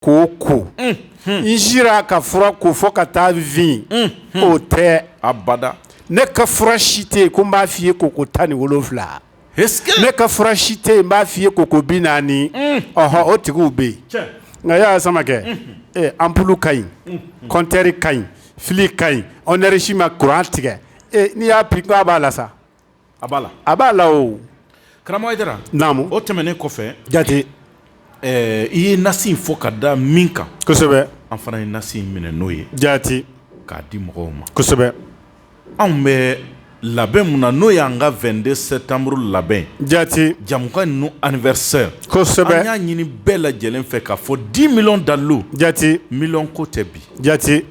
k'o ko n sera ka fura ko fɔ ka taa vingt o tɛ abada ne ka fura si tɛ yen ko n b'a fɔ i ye ko ko tan ni wolonwula ne ka fura si tɛ yen n b'a fɔ i ye ko ko bi naani ɔnhɔn o tigiw bɛ yen nka y'a samakɛ anpulu ka ɲi kɔntɛri ka ɲi fili ka ɲi enɛrizi ma kuran tigɛ n'i y'a bi b'a la sa a b'a la a b'a la o karamɔgɔ hayidara naamu o tɛmɛnen kɔfɛ jate i ye nasi fɔ ka da min kan kosɛbɛ an fana ye nasi minɛ n'o ye jate k'a di mɔgɔw ma kosɛbɛ anw bɛ labɛn min na n'o y'an ka vingt-deux sɛtanburu labɛn jate jamukanu anniversaire kosɛbɛ y'a ɲini bɛɛ lajɛlen fɛ k'a fɔ dix millions dalu jate miliyɔn ko tɛ bi jate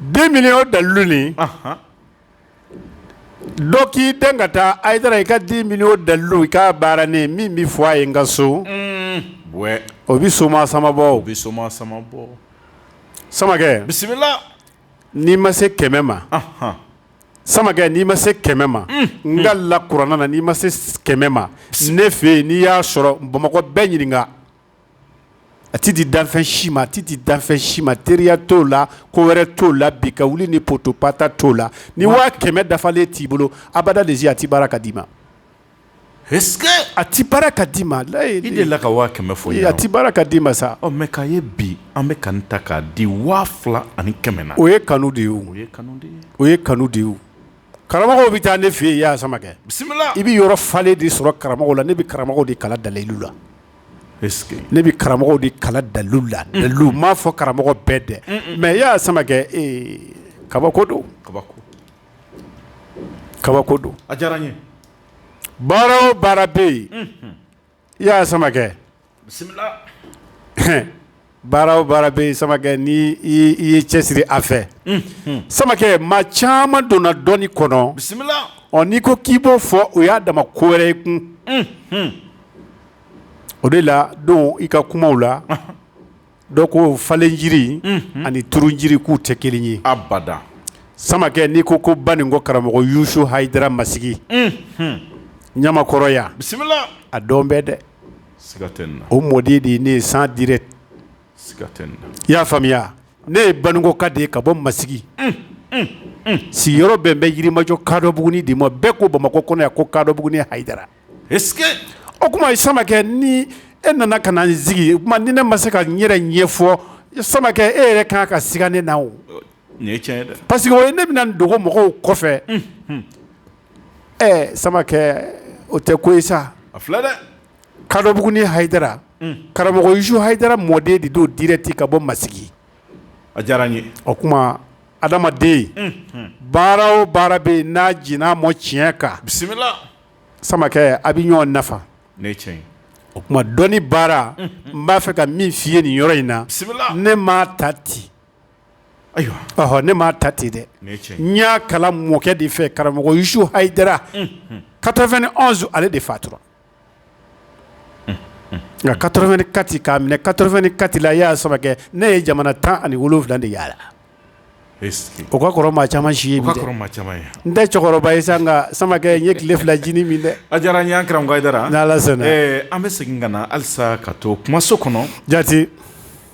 Dix millions dalu dɔ k'i den ka taa a taara i ka dix millions dalu i k'a baara ne min bɛ fɔ a ye n ka so o bɛ so samabɔ o bɛ so sama samakɛ bisimila n'i ma se kɛmɛ ma samakɛ n'i ma se kɛmɛ ma n kalila kuranɛ na n'i ma se kɛmɛ ma ne fɛ yen n'i y'a sɔrɔ bamakɔ bɛɛ ɲininka a tɛ di danfɛn si ma a tɛ di danfɛn si ma teriya t'o la ko wɛrɛ t'o la bi ka wuli ni potopata t'o la ni waa kɛmɛ dafalen t'i bolo abada de a tɛ baara ka d'i ma a tɛ baara ka d'i ma layi de la ka waa kɛmɛ fɔ ye a tɛ baara ka d'i ma samakɛ a ye bi an bɛ k'a ta k'a di waa fila ani kɛmɛ na o ye kanu de ye o ye kanu o ye kanu de ye karamɔgɔw bɛ taa ne fɛ yen i y'a samakɛ bisimila i bɛ yɔrɔ falen de sɔrɔ karamɔgɔ la ne bɛ karamɔgɔw de kalan dalilu la ne bɛ karamɔgɔw de kalan dalu la dalu n m'a fɔ karamɔgɔ bɛɛ dɛ mɛ i y'a samakɛ kabako don kabako don a diyara ye baara o baara bɛ yen i y'a samakɛ baara o baara bɛ samakɛ n'i y'i cɛ siri a fɛ samakɛ maa caman donna dɔnni kɔnɔ bisimila ɔ n'i ko k'i b'o fɔ o y'a dama ko wɛrɛ ye kun o de la don i ka kumaw la dɔ ko falen jiri ani turu jiri k'u tɛ kelen ye abada samakɛ n'i ko ko banikɔ karamɔgɔ yusu hayidara masigi ɲamakɔrɔya bisimila a dɔn bɛ dɛ o mɔden de ne ye sang direct i y'a faamuya ne ye banikɔ ka de ka bɔ masigi sigiyɔrɔ bɛn bɛ yirimajɔ kadɔbugunin de ma bɛɛ ko bamakɔ kɔnɔ yan ko kadɔbugunin hayidara o tuma ye samakɛ ni e nana ka n sigi o tuma ni ne ma se ka n yɛrɛ ɲɛfɔ samakɛ e yɛrɛ kan ka siga ne na o parce que ne bɛna dogo mɔgɔw kɔfɛ samakɛ o tɛ ko sa a filɛ dɛ kadɔbugunin hayidara karamɔgɔ usu hayidara mɔden de don dirɛkiti ka bɔ masigi a diyara n ye o tuma adamaden baara o baara bɛ yen n'a j n'a ma tiɲɛ kan bisimila samakɛ a bɛ ɲɔgɔn nafa tiɲɛ o tuma dɔnni baara n b'a fɛ ka min f'i ye nin yɔrɔ in na ne m'a ta ten ayiwa ne m'a ta ten dɛ n y'a kalan n mɔkɛ de fɛ karamɔgɔ usu hayidara quatre-vingt-un ale de fatura en quatre-vingt-quatre k'a minɛ quatre-vingt-quatre la yaa samakɛ ne ye jamana tan ani wolo wolonwula de yaala o ka kɔrɔ maa caman si ye n tɛ cɛkɔrɔba ye san ka samakɛ n ye tile fila jinin min dɛ a diyara n ye karamɔgɔba an bɛ segin ka na halisa ka to kumaso kɔnɔ jate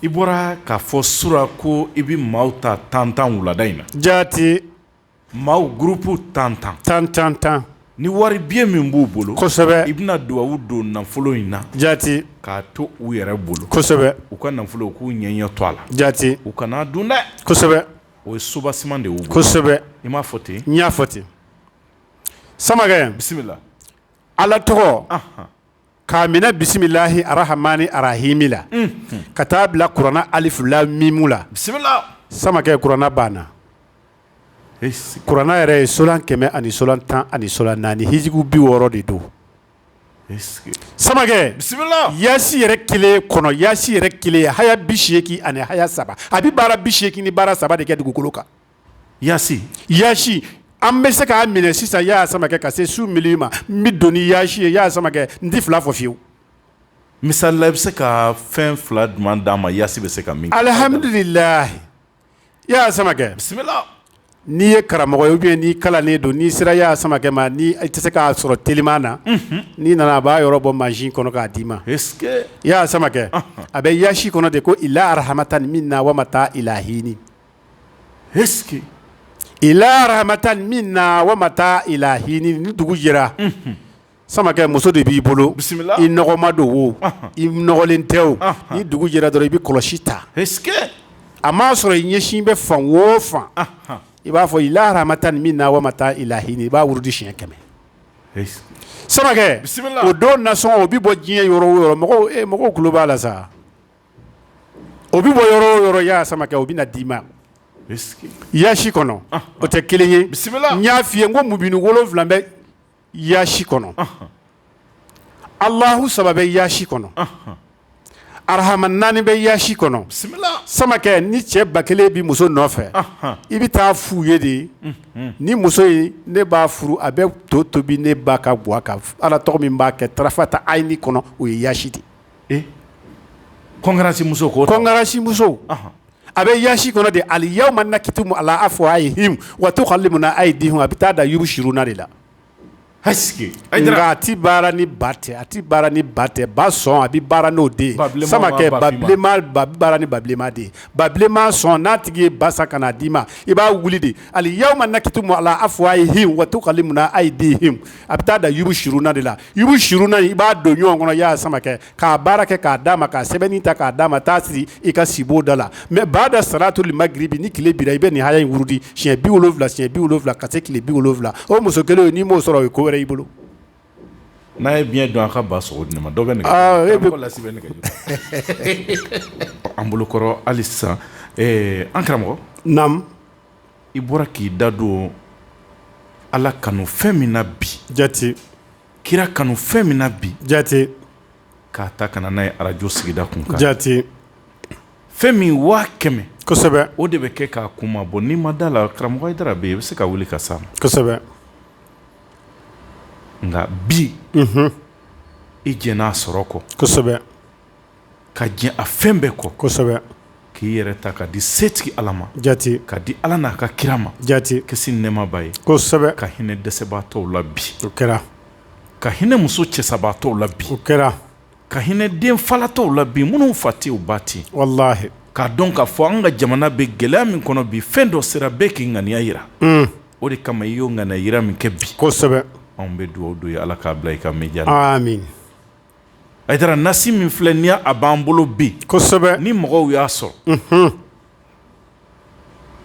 I bɔra k'a fɔ surɔ ko i bɛ maaw ta tan tan wulada in na jate maaw gurupu tan tan tan tan tan ni wari biye min b'u bolo kosɛbɛ i bɛna dugawu don nafolo in na jate k'a to u yɛrɛ bolo kosɛbɛ u ka nafolo k'u ɲɛ ɲɛ to a la jate u kan'a dun dɛ kosɛbɛ o ye sobasi de ye kosɛbɛ i m'a fɔ ten n y'a fɔ ten samakɛ bisimila ala tɔgɔ k'a minɛ bisimilahi arahamani arahimi la ka taa bila kuranna alifu lamu mimu la samakɛ kuranna banna kuranna yɛrɛ ye sola kɛmɛ ani sola tan ani sola naani hijibu bi wɔɔrɔ de don samakɛ bisimila yaasi yɛrɛ kelen kɔnɔ yaasi yɛrɛ kelen haya bi seeki ani haya saba a bɛ baara bi seeki ni baara saba de kɛ dugukolo kan yaasi an bɛ se k'a minɛ sisan yaa samakɛ ka se su mili ma n bɛ don ni yaasi ye yaa samakɛ n tɛ fila fɔ f'i ye wo misala i bɛ se ka fɛn fila duman d'a ma yaasi bɛ se ka min alihamdulilahi yaa samakɛ bisimila n'i ye karamɔgɔ ye o bɛ yen n'i kalannen don n'i sera yaa samakɛ ma ni i tɛ se k'a sɔrɔ teliman na n'i nana a b'a yɔrɔ bɔ mansin kɔnɔ k'a d'i ma yaa samakɛ a bɛ yaasi kɔnɔ de ko ila arahamatani minna wa mataa ila hini ila rahamatan minna wa mataa ila hini ni dugu jɛra samakɛ muso de b'i bolo bisimila i nɔgɔma don wo i nɔgɔlen tɛ wo ni dugu jɛra dɔrɔn i bɛ kɔlɔsi ta a m'a sɔrɔ i ɲɛsin bɛ fan o fan i b'a fɔ ila rahamatani minna wa mataa ila hini i b'a wurudi siɲɛ kɛmɛ samakɛ o don nasɔn o bɛ bɔ diɲɛ yɔrɔ o yɔrɔ mɔgɔw tulo b'a la sa o bɛ bɔ yɔrɔ o yɔrɔ y'a samakɛ o bɛ na d'i ma yaasi kɔnɔ o tɛ kelen ye n y'a fɔ i ye ko mubinu wolonwula bɛ yaasi kɔnɔ alahu saba bɛ yaasi kɔnɔ arahama naani bɛ yaasi kɔnɔ samakɛ ni cɛ ba kelen bɛ muso nɔfɛ i bɛ taa fu ye de ni muso ye ne b'a furu a bɛ to tobi ne ba ka ga ala tɔgɔ min b'a kɛ tarafata haini kɔnɔ o ye yaasi de kɔnsimuso ko kɔnsimuso a bɛ yasi kɔnɔ de aliyawma nakitimu ala afuwayihi wa tukalimuna ayidihi a bɛ taa da yubusiruna de la a tɛ baara ni ba tɛ a tɛ ni ba tɛ ba sɔn a bɛ baara n'o de sama kɛ bɛ baara ni ba bilenma de ba bilenma sɔn n'a tigi ye ba san ka n'a d'i ma i b'a wuli de aliyawma nakitimu ala afuwayihi wa tukalimuna ayidihi a bɛ taa da yubusiruna de la i bɛ surun na i b'a don ɲɔgɔn kɔnɔ y'a sama kɛ k'a baara kɛ k'a d'a ma ka sɛbɛn ta k'a d'a ma taa siri i ka sibon da la ma baada saratoli magiribi ni tile bira i bɛ nin haya in wurudi siɲɛ bi wolonwula siɲɛ bi wolonwula ka se tile bi wolonwula o muso kelen n'i m'o sɔrɔ o i ko wɛrɛ i bolo n'a ye bi don a ka ba sogo di ma dɔ bɛ an bolokɔrɔ hali sisan an karamɔgɔ i bɔra k'i da don ala kanu fɛn min na bi jate kira kanu fɛn min na bi jate k'a ta ka na n'a ye arajo sigida kun kan jate fɛn min waa kɛmɛ kosɛbɛ o de bɛ kɛ k'a kunmabɔ n'i ma da la karamɔgɔ hayidara bɛ yen i bɛ se ka wuli k'a san kosɛbɛ nka bi i jɛnn'a sɔrɔ kɔ kosɛbɛ ka jɛn a fɛn bɛɛ kɔ kosɛbɛ k'i yɛrɛ ta ka di setigi ala ma jate ka di ala n'a ka kira ma jate kisi nɛmaba ye kosɛbɛ ka hinɛ dɛsɛbatɔw la bi o kɛra ka hinɛ muso cɛsabatɔw la bi o kɛra ka hinɛ den falatɔw la bi minnu fa tɛ u ba tɛ walayi k'a dɔn k'a fɔ an ka jamana bɛ gɛlɛya min kɔnɔ bi fɛn dɔ sera bɛɛ k'i ŋaniya jira o de kama i y'o ŋaniya jira min kɛ bi kosɛbɛ anw bɛ dugawu don i ye ala k'a bila i ka mijana min Hayidara nasi min filɛ nin ye a b'an bolo bi kosɛbɛ ni mɔgɔw y'a sɔrɔ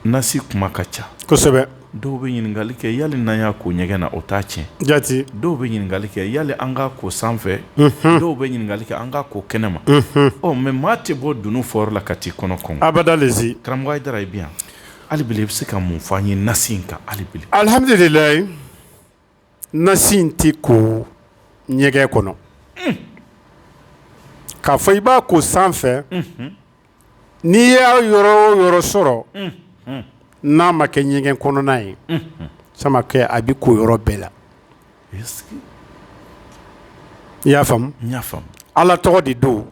nasi kuma ka ca kosɛbɛ dɔw bɛ ɲininkali kɛ yala n'an y'a ko ɲɛgɛn na o t'a tiɲɛ jate dɔw bɛ ɲininkali kɛ yala an k'a ko sanfɛ dɔw bɛ ɲininkali kɛ an k'a ko kɛnɛ ma ɔ mɛ maa tɛ bɔ dunun fɔyɔrɔ la ka taa i kɔnɔ kɔnɔ a bɛda karamɔgɔ da i bi yan hali i bɛ se ka mun f'an ye nasi in kan alibi alihamudulila nasi in tɛ ko ɲɛgɛn kɔnɔ k'a fɔ i b'a ko sanfɛ n'i y'a yɔrɔ o yɔrɔ sɔrɔ n'a ma kɛ ɲɛgɛn kɔnɔna ye samakɛ a bɛ ko yɔrɔ bɛɛ la i y'a faamuya ala tɔgɔ de don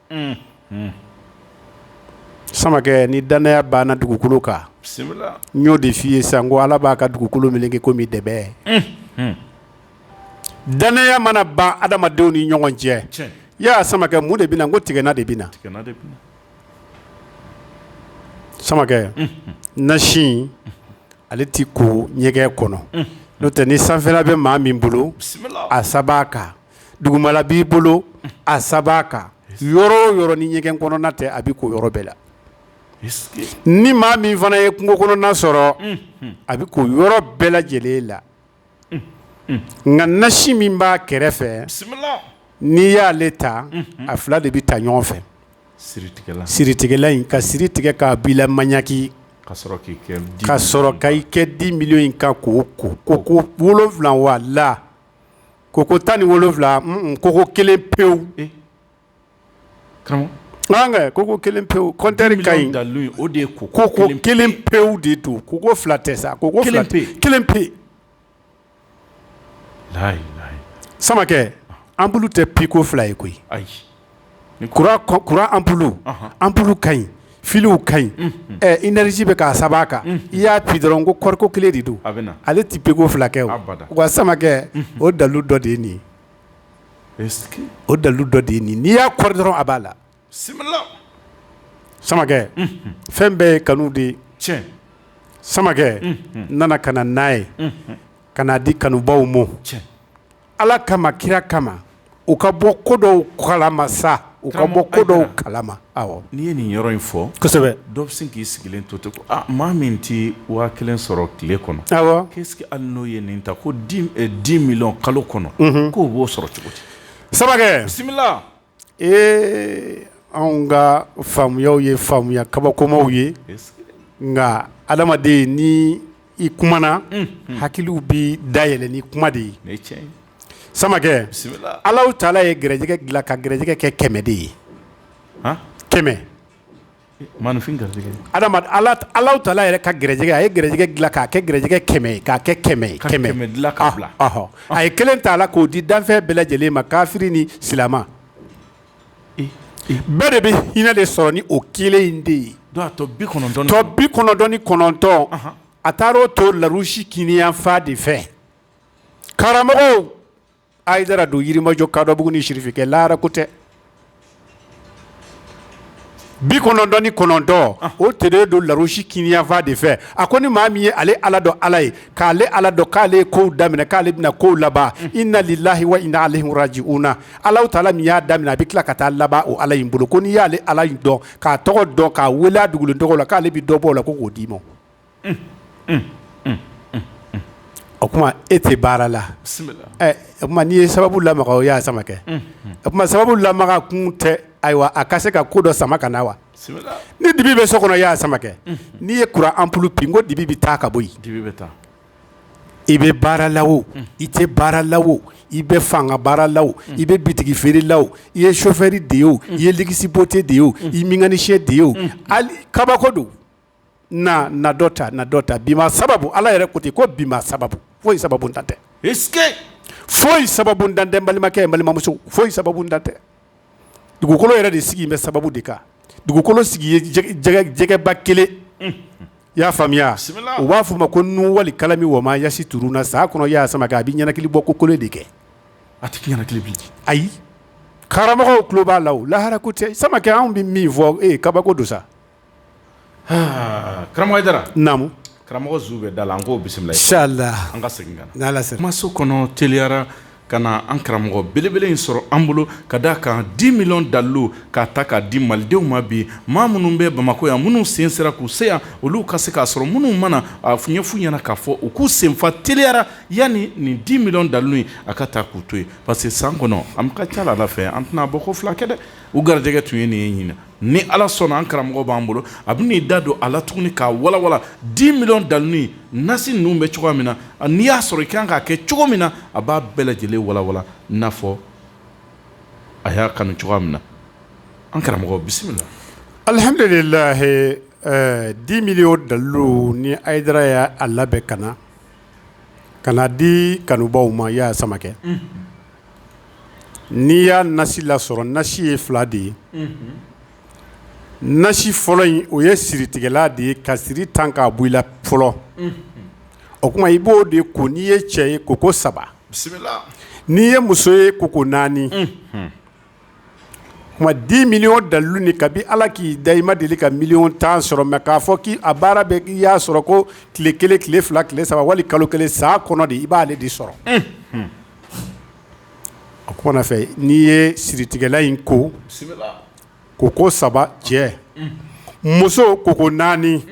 samakɛ ni dannaya banna dugukolo kan n y'o de f' i ye san ko ala b'a ka dugukolo min kɛ ko dɛ dannaya mana ban adamadenw ni ɲɔgɔn cɛ i y'a sama mun de bɛna ko tigɛna de bɛ samakɛ nasi in ale tɛ ko ɲɛgɛn kɔnɔ n'o tɛ ni sanfɛla bɛ maa min bolo a saba kan dugumala b'i bolo a saba kan yɔrɔ o yɔrɔ ni ɲɛgɛn kɔnɔna tɛ a bɛ ko yɔrɔ bɛɛ la ni maa min fana ye kungo kɔnɔna sɔrɔ a bɛ ko yɔrɔ bɛɛ lajɛlen la nka nasi min b'a kɛrɛfɛ n'i y'ale ta a fila de bɛ taa ɲɔgɔn fɛ siritigɛla in ka siri tigɛ k'a bila maɲaki ka sɔrɔ ka i kɛ dix millions in kan ko ko ko ko wolonwula wala ko ko tan ni wolonwula ko kelen pewu ko kelen pewu kɔnte ka o de ko ko ko kelen pewu de don ko ko fila tɛ sa ko ko kelen pe samakɛ anpulu tɛ pi ko fila ye koyi kuran anpulu anpulu ka ɲi filiw ka ɲi énergie bɛ k'a saba kan i y'a pi dɔrɔn ko kɔri ko kelen de don ale tɛ pi ko fila kɛ wa samakɛ o dalu dɔ de ye nin ye o dalu dɔ de ye nin n'i y'a kɔri dɔrɔn a b'a la samakɛ fɛn bɛɛ ye kanu de ye cɛ samakɛ nana ka n'a ye ka n'a di kanubaw ma ala kama kira kama u ka bɔ ko dɔw kalama sa u ka bɔ ko dɔw kalama n'i ye nin yɔrɔ in fɔ dɔw bɛ se k'i sigilen to ten ko maa min tɛ waa kelen sɔrɔ tile kɔnɔ ke ali n'o ye nin ta ko dix millions kalo kɔnɔ k'o b'o sɔrɔ cogo di samakɛ bisimila ee anw ka faamuya ye faamuya kabakomaw ye nka adamaden ni i kumana hakili bɛ dayɛlɛ ni i kuma de ye samakɛ ala taala ye garijɛgɛ dilan ka garijɛgɛ kɛ kɛmɛ de ye kɛmɛ maaninfin garijɛgɛ ala ala tala yɛrɛ ka garijɛgɛ a ye garijɛgɛ dilan k'a kɛ garijɛgɛ kɛmɛ k'a kɛ kɛmɛ kɛmɛ dilan ka bila ahɔ a ye kelen t'a la k'o di danfɛn bɛɛ lajɛlen ma kafiri ni silamɛ bɛɛ de bɛ hinɛ de sɔrɔ ni o kelen in de ye tɔ bi kɔnɔntɔn ni kɔnɔntɔn a taara o to larusi kininyanfan de fɛ karamɔgɔ ayidara don yirimajɔ kadɔbugu ni sirifikɛ lara ko tɛ bi kɔnɔntɔn ni kɔnɔntɔn o tɛ bɛ don larusi kinin fan de fɛ a ko ni maa min ye ale ala dɔn ala ye k'ale ala dɔn k'ale ko daminɛ k'ale bɛna ko laban inna lillahi wa inna ilayhi rajiuna ala taala min y'a daminɛ a bɛ tila ka t'a laban o ala in bolo ko n'i y'ale ala dɔn k'a tɔgɔ dɔn k'a weele dugu tɔgɔ la k'ale bɛ dɔ bɔ o la ko k'o d'i ma o tuma e tɛ baara la n'i ye sababu lamaga o y'a samakɛ o tuma sababu lamaga kun tɛ ayiwa a ka se ka ko dɔ sama ka na wa ni dibi bɛ so kɔnɔ y'a samakɛ n'i ye kuran anpulu bi ko dibi bɛ taa ka bɔ yen i bɛ baara la o i tɛ baara la o i bɛ fanga baara la o i bɛ bitigi feere la i ye sofɛri de ye o i ye gsi bɔte de ye o i mekanisiyɛn de ye o kabako don na na dɔ ta na dɔ ta bi sababu ala yɛrɛ ko ten ko bi sababu foyi sababuntan tɛ foyi sababuntan tɛ balimakɛ balimamuso foyi sababuntan tɛ dugukolo yɛrɛ de sigi bɛ sababu de kan dugukolo sigi jɛgɛba kelen i y'a faamuya u b'a f'a ma ko nun walikalami wama yasituruna sa kɔnɔ y' sama a bɛ ɲɛnakili bɔ ko kolo de kɛ a ayi karamɔgɔ tulo b'a la lahara ko tɛ samakɛ anw bɛ min fɔ e kabako don sa Karamɔgɔ jara naamu karamɔgɔ zu bɛ da la an k'o bisimila sa la an ka segin n' maso kɔnɔ teliyara ka na an karamɔgɔ belebele in sɔrɔ an bolo ka d' a kan di miliyɔn dalilu k'a ta k'a di malidenw ma bi maa minnu bɛ bamakɔ yan minnu sen sera k'u se yan olu ka se k'a sɔrɔ minnu mana a f ɲɛfun ɲɛna k'a fɔ u k'u sen fa teliyara yanni nin di miliyɔn dalilu in a ka taa k'u to yen parce que san kɔnɔ a ka ca la fɛ an tɛna bɔ ko fila kɛ dɛ u garijɛgɛ tun ye nin ye ɲin ni ala sɔnna an karamɔgɔ b'an bolo a bɛ n'i da don a la tuguni k'a walawala di miliyɔn dalilu nasi ninnu bɛ cogoya min na n'i y'a sɔrɔ i kan k'a kɛ cogo min na a b'a bɛɛ lajɛlen walawala n'a fɔ a y'a kanu cogoya min na an karamɔgɔ bisimila alihamudulilayi di miliyɔn dalilu nin ayidara y'a labɛn ka na Ka n'a di kanubaw ma i y'a samakɛ n'i y'a nasi lasɔrɔ nasi ye fila de ye nasi fɔlɔ in o ye siritigɛla de ye ka siri ta k'a bɔ i la fɔlɔ o tuma i b'o de ko n'i ye cɛ ye koko saba n'i ye muso ye koko naani di miliyɔn dalilu ni kabi ala k'i da i ma deli ka miliyɔn tan sɔrɔ mɛ k'a fɔ k' a baara bɛ i y'a sɔrɔ ko tile kelen tile fila tile saba wali kalo kelen san kɔnɔ de i b'aale de sɔrɔ a ko fɛ n'i ye siritigɛlan in ko ko ko saba cɛ muso ko ko naani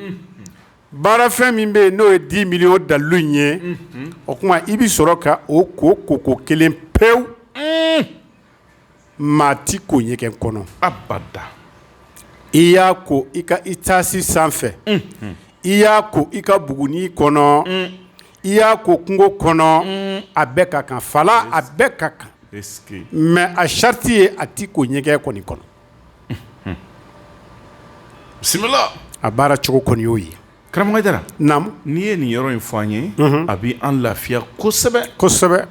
baara fɛn min bɛ yen n'o ye di miliyɔn dalilu in ye o tuma i bɛ sɔrɔ ka o ko ko ko kelen pewu maa tɛ ko ɲɛgɛn kɔnɔ a ba i y'a ko i ka etazi sanfɛ i y'a ko i ka bugunin kɔnɔ i y'a ko kungo kɔnɔ a bɛɛ ka kan fa la a bɛɛ ka kan mɛ a sariti ye a tɛ ko ɲɛgɛn kɔni kɔnɔ bisimila a baara cogo kɔni y'o ye karamɔgɔ n'i ye nin yɔrɔ in fɔ an ye a bɛ an lafiya kosɛbɛ kosɛbɛ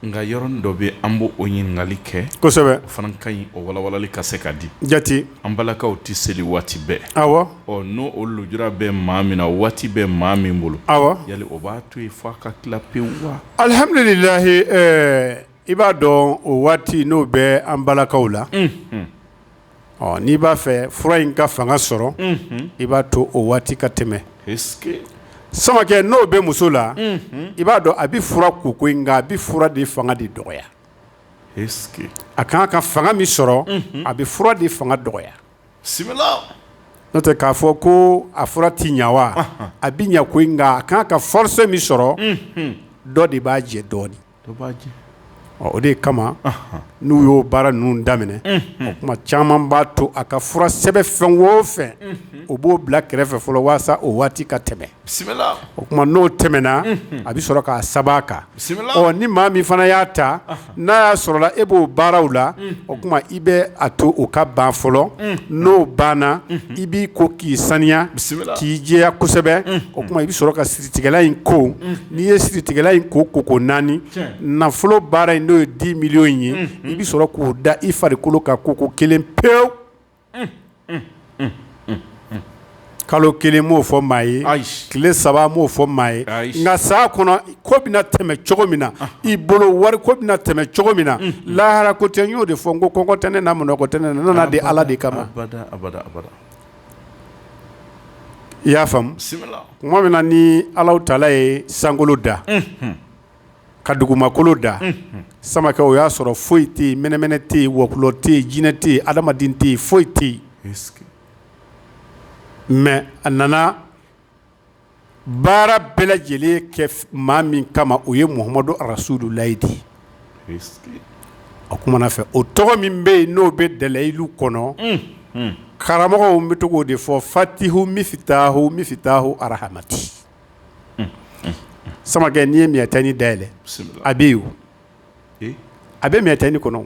Nka yɔrɔnin dɔ bɛ yen an b' o ɲininkali kɛ kosɛbɛ fana ka ɲi o walawalali ka se ka di jate an balakaw tɛ seli waati bɛɛ awɔ n'o o lujura bɛ maa min na o waati bɛ maa min bolo awa yali o b'a to yen fo a ka tila pewu wa alihamdulilayi i b'a dɔn o waati n'o bɛ an balakaw la ɔ n'i b'a fɛ fura in ka fanga sɔrɔ i b'a to o waati ka tɛmɛ samakɛ n'o bɛ muso la i b'a dɔn a bɛ fura ko koyi nka a bɛ fura de fanga de dɔgɔya a ka kan ka fanga min sɔrɔ a bɛ fura de fanga dɔgɔya n'o tɛ k'a fɔ ko a fura tɛ ɲɛ wa a bɛ ɲɛ koyi nka a ka kan ka fɔrɔsi min sɔrɔ dɔ de b'a jɛ dɔɔnin o de kama n'u y'o baara ninnu daminɛ o tuma caman b'a to a ka fura sɛbɛn fɛn o fɛn o b'o bila kɛrɛfɛ fɔlɔ walasa o waati ka tɛmɛ o tuma n'o tɛmɛna a bɛ sɔrɔ k'a saba kan ni maa min fana y'a ta n'a y'a sɔrɔ e b'o baaraw la o tuma i bɛ a to o ka ban fɔlɔ n'o banna i b'i ko k'i saniya k'i jɛya kosɛbɛ o tuma i bɛ sɔrɔ ka in ko n'i ye siritigɛlan in ko ko ko naani nafolo baara in n'o ye di miliyɔn ye i bɛ sɔrɔ k'o da i farikolo kan ko ko kelen pewu kalo kelen m'o fɔ maa ye tile saba m'o fɔ maa ye nka san kɔnɔ ko bɛna tɛmɛ cogo min na i bolo wari ko bɛna tɛmɛ cogo min na lahara ko tɛ y'o de fɔ ko kɔngɔ tɛ ne na minnɔgɔ tɛ ne na n nana de ala de kama i y'a faamu tuma min na ni ala taala ye sankolo da ka dugumakolo da samakɛ o y'a sɔrɔ foyi tɛ mɛnɛmɛnɛ tɛ yen wɔkulɔ tɛ yen jinɛ tɛ yen adamaden tɛ yen foyi tɛ yen mɛ a nana baara bɛɛ lajɛlen kɛ maa min kama o ye muhamadu arasululayi de ye o tuma na fɛ o tɔgɔ min bɛ yen n'o bɛ dalayilu kɔnɔ karamɔgɔ n bɛ tɔgɔ de fɔ fatihu mifitahu mifitahu arahamati samakɛ n'i ye miyatani dayɛlɛ a bɛ yen a bɛ miyatani kɔnɔ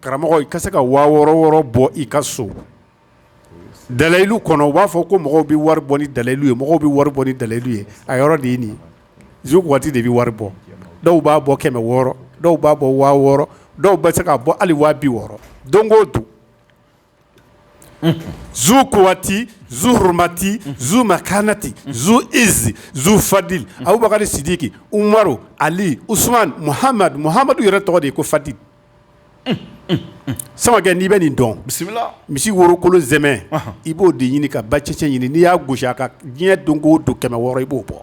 karamɔgɔ i ka se ka waa wɔɔrɔ wɔɔrɔ bɔ i ka so dalayilu kɔnɔ u b'a fɔ ko mɔgɔw bɛ wari bɔ ni dalayilu ye mɔgɔw bɛ wari bɔ ni dalayilu ye a yɔrɔ de ye nin zukuwati de bɛ wari bɔ dɔw b'a bɔ kɛmɛ wɔɔrɔ dɔw b'a bɔ waa wɔɔrɔ dɔw bɛ se k'a bɔ hali waa bi wɔɔrɔ don o don Zukuwati zuhurumati zumakanati zuizi zufadili abubakari sidiki umaru ali usumani muhamadu muhamadu yɛrɛ tɔgɔ de ye ko fadili samakɛ n'i bɛ nin dɔn bisimila misi worokolo sɛmɛ i b'o de ɲini ka ba cɛcɛ ɲini n'i y'a gosi a kan dɛ don o don kɛmɛ wɔɔrɔ i b'o bɔ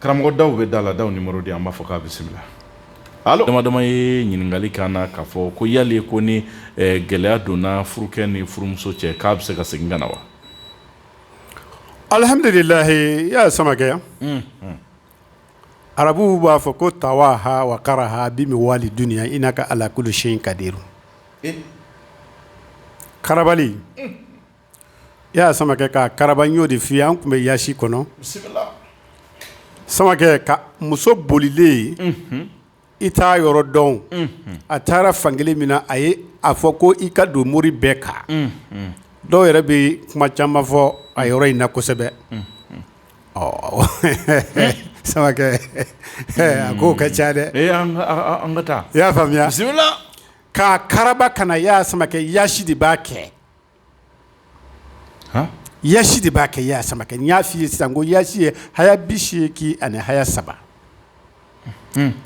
Karamɔgɔ daw bɛ da la daw nimɔrɔ di an b'a fo k'a bisimila ala damadama ye ɲininkali k'a na k'a fɔ ko yali ko ni gɛlɛya donna furukɛ ni furumuso cɛ k'a bɛ se ka segin ka na wa alihamudulilayi yaya samakɛ yan arabuw b'a fɔ ko tawaha wakaraha bi mi wali dunya inaka ala kuli seyin kadiru Yaya samakɛ k'a karaba n y'o de f'i ye an tun bɛ yaasi kɔnɔ samakɛ ka muso bolilen yen i t'a yɔrɔ dɔn a taara fan kelen min na a ye a fɔ ko i ka don mori bɛɛ kan dɔw yɛrɛ bɛ kuma caman fɔ a yɔrɔ in na kosɛbɛ ɔ sama a ko ka ca dɛ i y'a faamuya k'a karaba ka na yaya samakɛ yaasi de b'a kɛ yasi de b'a kɛ yaya samakɛ n y'a f'i ye sisan ko yasi ye haya biseegin ani haya saba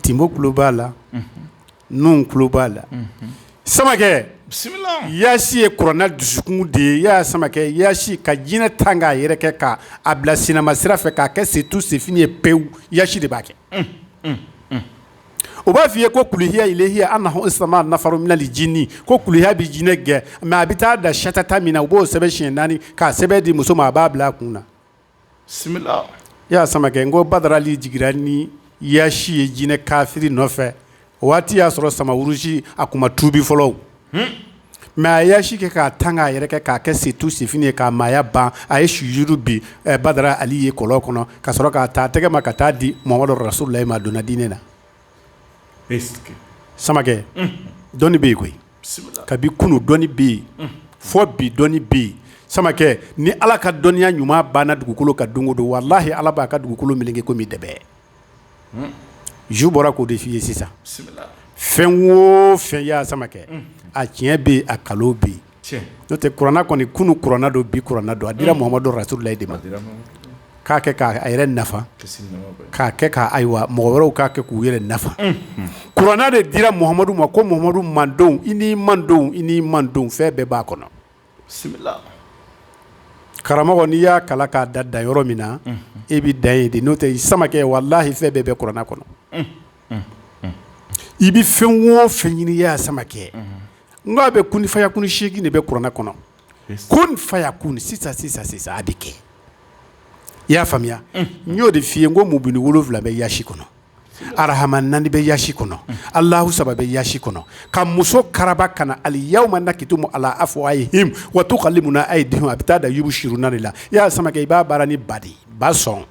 tinbo kulu b'a la nun kulu b'a la samakɛ yasi ye kuranɛ dusukun de ye yaya samakɛ yasi ka jinɛ ta k'a yɛrɛ kɛ k'a a bila silama sira fɛ k'a kɛ setu sef ye pewu yasi de b'a kɛ o b'a f'i ye ko kuluhiya ilehiya anahu sama nafaru minali jini ko kuluhiya bɛ jinɛ gɛn mɛ a bɛ taa dan satata min na u b'o sɛbɛn siɲɛ naani k'a sɛbɛn di muso ma a b'a bila a kun na yaya samakɛ n ko badara ali jiginra ni yasi ye jinɛ kafiri nɔfɛ o waati y'a sɔrɔ samawurusi a tun ma tubi fɔlɔ mɛ a y'a si kɛ k'a tan k'a yɛrɛ k'a kɛ se tu sif ye k'a maaya ban a ye sujudu bin badara ali ye kɔlɔn kɔnɔ ka sɔrɔ k'a taa tɛgɛ ma ka taa di muhamadu rasululayi ma a donna diinɛ na samakɛ dɔnni bɛ yen koyi kabi kunun dɔnni bɛ yen fo bi dɔnni bɛ yen samakɛ ni ala ka dɔnniya ɲuman banna dugukolo kan don o don walahi ala b'a ka dugukolo meleke komi dɛbɛn jo bɔra k'o de f'i ye sisan fɛn wo fɛn ya samakɛ a tiɲɛ bɛ yen a nkalon bɛ yen n'o tɛ kuranɛ kɔni kunun kuranɛ don bi kuranɛ don a dira muhamadu rasululayi de ma k'a kɛ k'a yɛrɛ nafa k'a kɛ ka ayiwa mɔgɔ wɛrɛw k'a kɛ k'u yɛrɛ nafa kuranɛ de dira muhamadu ma ko muhamadu mantɔn i n'i mantɔn i n'i mantɔn fɛn bɛɛ b'a kɔnɔ karamɔgɔ n'i y'a kalan ka dan danyɔrɔ min na i bɛ dan yen de n'o tɛ samakɛ walahi fɛn bɛɛ bɛ kuranɛ kɔnɔ i bɛ fɛn o fɛn ɲini ya samakɛ n a bɛ kun faya kun seegin de bɛ kuranɛ kɔnɔ kun faya kun sisan sisan sisan a bɛ kɛ i y'a faamuya n y'o de f'i ye ko mubini wolonwula bɛ yasi kɔnɔ arahama naani bɛ yasi kɔnɔ alahu saba bɛ yasi kɔnɔ ka muso karaba ka na aliyawuma nakitimu ala afuwahihim wa tukalimuna ayidihim a bɛ taa dan yiriuru sur naani de la ya samakɛ i b'a baara ni ba de ba sɔn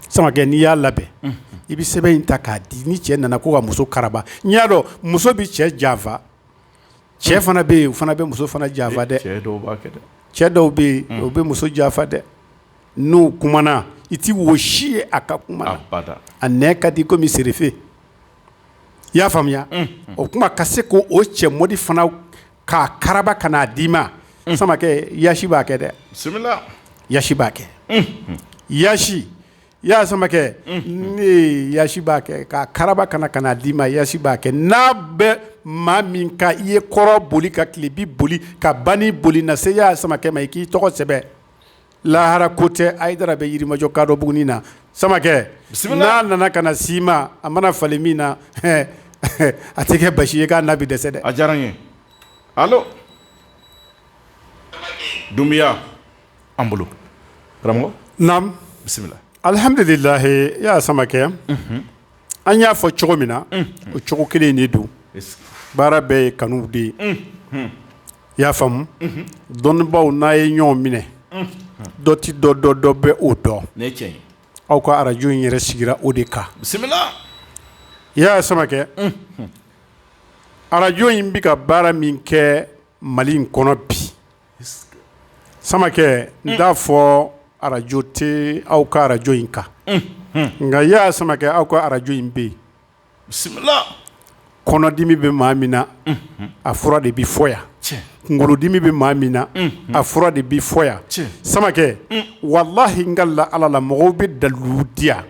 samakɛ n'i y'a labɛn i bɛ sɛbɛn in ta k'a di ni cɛ nana ko ka muso karaba i y'a dɔn muso bɛ cɛ janfa cɛ fana bɛ yen o fana bɛ muso fana janfa dɛ cɛ dɔw bɛ yen o bɛ muso janfa dɛ n'u kumana i tɛ wo si ye a ka kuma na a nɛn ka di komi sirife i y'a faamuya o kuma ka se ko o cɛ mɔdi fana k'a karaba ka n'a d'i ma samakɛ yasi b'a kɛ dɛ yasi b'a kɛ yasi ya samakɛ yasi b'a kɛ k'a karaba ka n'a d'i ma yasi b'a kɛ n'a bɛ maa min kan i ye kɔrɔn boli ka tilebin boli ka ban boli na se ya samakɛ ma i k'i tɔgɔ sɛbɛn Lahara ko tɛ ayidara bɛ yirimajɔ kadɔbugunin na samakɛ n'a nana ka na si ma a mana falen min na a tɛ kɛ baasi ye k'a na bɛ dɛsɛ dɛ a diyara n ye donbeya an bolo bisimila alihamdulilayi ya samakɛ an y'a fɔ cogo min na o cogo kelen de don baara bɛɛ ye kanu de ye i y'a faamu dɔnnibaw n'a ye ɲɔgɔn minɛ dɔ tɛ dɔ dɔn dɔ bɛ o dɔn aw ka arajo in yɛrɛ sigira o de kan bisimila ya samakɛ arajo in bɛ ka baara min kɛ mali in kɔnɔ bi samakɛ n t'a fɔ arajo tɛ aw ka arajo in kan nka ya samakɛ aw ka arajo in bɛ yen bisimila kɔnɔdimi bɛ maa min na a fura de bɛ fɔ yan kunkolodimi bɛ maa min na a fura de bɛ fɔ yan samakɛ walahi n kalila ala la mɔgɔw bɛ dalilu di yan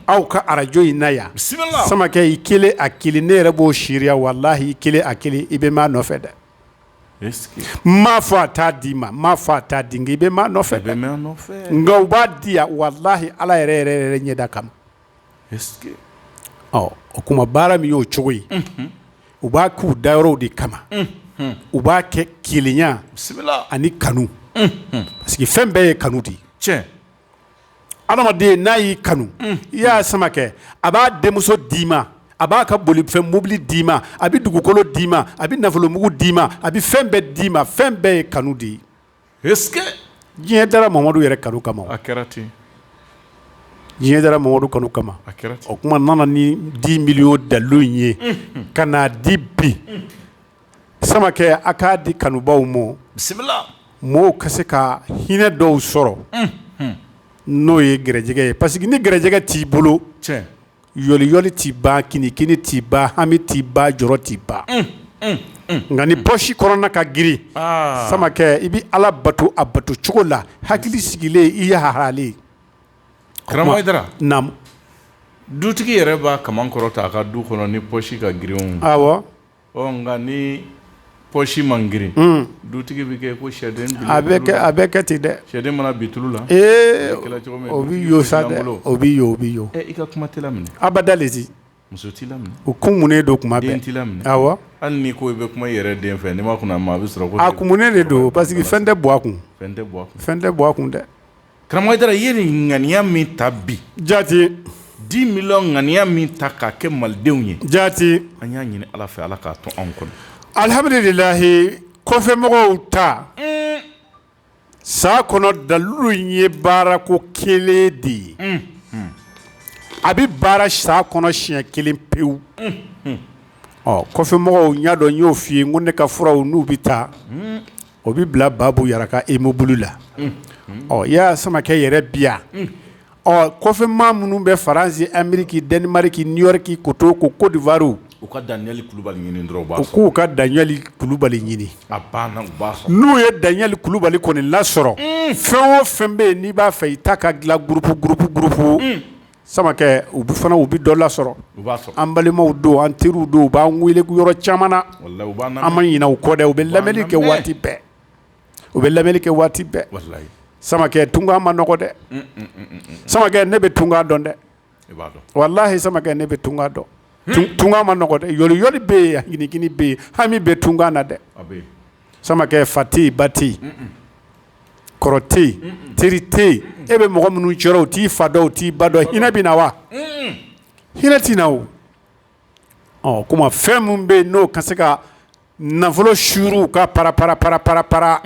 aw ka arajo in na yan bisimila samakɛ i kelen a kelen ne yɛrɛ b'o siri yan walahi i kelen a kelen i bɛ maa nɔfɛ dɛ n ma fɔ a t'a d'i ma n ma fɔ a t'a di i bɛ maa nɔfɛ nka u b'a di walahi ala yɛrɛ yɛrɛ yɛrɛ ɲɛda kama o tuma baara min y'o cogo ye u b'a k'u dayɔrɔw de kama u b'a kɛ kelenya ani kanu parce que fɛn bɛɛ ye kanu de ye cɛ adamaden n'a y'i kanu i y'a samakɛ a b'a denmuso d'i ma a b'a ka bolifɛn mobili d'i ma a bɛ dugukolo d'i ma a bɛ nafolomugu d'i ma a bɛ fɛn bɛɛ d'i ma fɛn bɛɛ ye kanu de ye diɲɛ dara mamadu yɛrɛ kanu kama a kɛra ten diɲɛ dara mamadu kanu kama a kɛra o tuma nana ni 10 millions dalilu in ye ka n'a di bi samakɛ a k'a di kanubaw ma bisimila mɔgɔw ka se ka hinɛ dɔw sɔrɔ n'o ye garijɛgɛ ye parce que ni garijɛgɛ t'i bolo cɛ yɔliyɔli tɛ ban kinikini tɛ ban hami tɛ ban jɔrɔ tɛ ban un un un nka ni poche kɔnɔna ka girin aa Samakɛ i bɛ Ala bato a bato cogo la hakili sigilen i yaharalen karamɔgɔ Hayidara naamu dutigi yɛrɛ b'a kaman kɔrɔta a ka du kɔnɔ ni poche ka girin o awɔ ɔ nka ni pɔsi man girin dutigi bɛ kɛ ko sɛden a bɛ kɛ ten dɛ sɛden mana bin tulu la ee o bɛ sa o bɛ o bɛ yen i ka kuma minɛ abada de muso t' la u ko mun de don kuma bɛ t' la aw hali ni ko i bɛ kuma yɛrɛ den fɛ ni ma kun a bɛ sɔrɔ a ko mun de don parce que fɛn tɛ bɔ a kun fɛn tɛ bɔ a kun dɛ Karamɔgɔ Hayidara i ye nin ŋaniya min ta bi jaati 10 millions ŋaniya min ta k'a kɛ Malidenw ye jaati an y'a ɲini Ala fɛ Ala k'a to anw kɔnɔ alihamidulilahi kɔfɛmɔgɔw ta uun san kɔnɔ dalilu in ye baarako kelen de ye unhun a bɛ baara san kɔnɔ siɲɛ kelen pewu unhun ɔ kɔfɛmɔgɔw n y'a dɔn n y'o f'i ye n ko ne ka furaw n'u bɛ taa uun o bɛ bila baabu yara ka immeuble la ɔ i y'a samakɛ yɛrɛ bi yan ɔ kɔfɛ maa minnu bɛ faransi ameriki danimariki niyɔriki ko to ko kodiwari u ka daniyɛli kulubali ɲini dɔrɔn k'u ka daniyɛli kulubali ɲini n'u ye daniyɛli kulubali kɔni lasɔrɔ fɛn o fɛn bɛ yen n'i b'a fɛ i ta ka dilan gurupu gurupu samakɛ u bɛ fana u bɛ dɔ lasɔrɔ u b'a sɔrɔ an balimaw don an teriw don u b'an wele yɔrɔ caman na walahi u b'an lamɛn an ma ɲinɛ u kɔ dɛ u bɛ lamɛnni kɛ waati bɛɛ u bɛ lamɛnni kɛ waati bɛɛ walahi samakɛ tunkan man nɔgɔn dɛ un un un un un samakɛ ne bɛ tunkan dɔn dɛ i b'a dɔn walahi samakɛ ne bɛ tunkan dɔn tun- tunkan man nɔgɔn dɛ yɔliyɔli bɛ yen ginigini bɛ yen hami bɛ tunkan na dɛ a bɛ yen samakɛ fa tɛ yen ba tɛ yen kɔrɔ tɛ teri tɛ e bɛ mɔgɔ minnu cɛ rɔ o t'i fa dɔn o t'i ba dɔn hinɛ bɛ na wa hinɛ tɛ na o ɔ tuma fɛn minnu bɛ yen n'o ka se ka nafolo suuru ka panra- panra- panra- panra- panra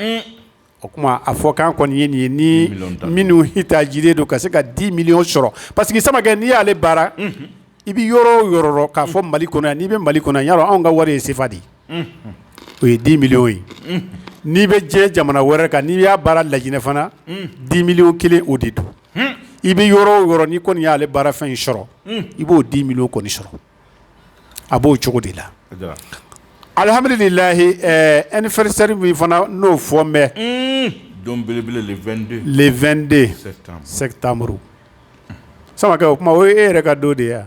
o tuma a fɔ k'an kɔni ye nin ye ni minnu hita jiri don ka se ka dix millions sɔrɔ parce que samakɛ n'i y'ale baara i bɛ yɔrɔ o yɔrɔ k'a fɔ mali kɔnɔ yan n'i bɛ mali kɔnɔ yan anw ka wari ye sefa ye o ye dix millions ye n'i bɛ diɲɛ jamana wɛrɛ kan n'i y'a baara laginɛ fana dix millions kelen o de don i bɛ yɔrɔ o yɔrɔ n'i kɔni y'ale baarafɛn in sɔrɔ i b'o dix millions kɔni sɔrɔ a b'o cogo de la alihamdulilayi anniversaire min fana n'o fɔ vingt-deux septembre samakɛ o tuma o e yɛrɛ ka don de yan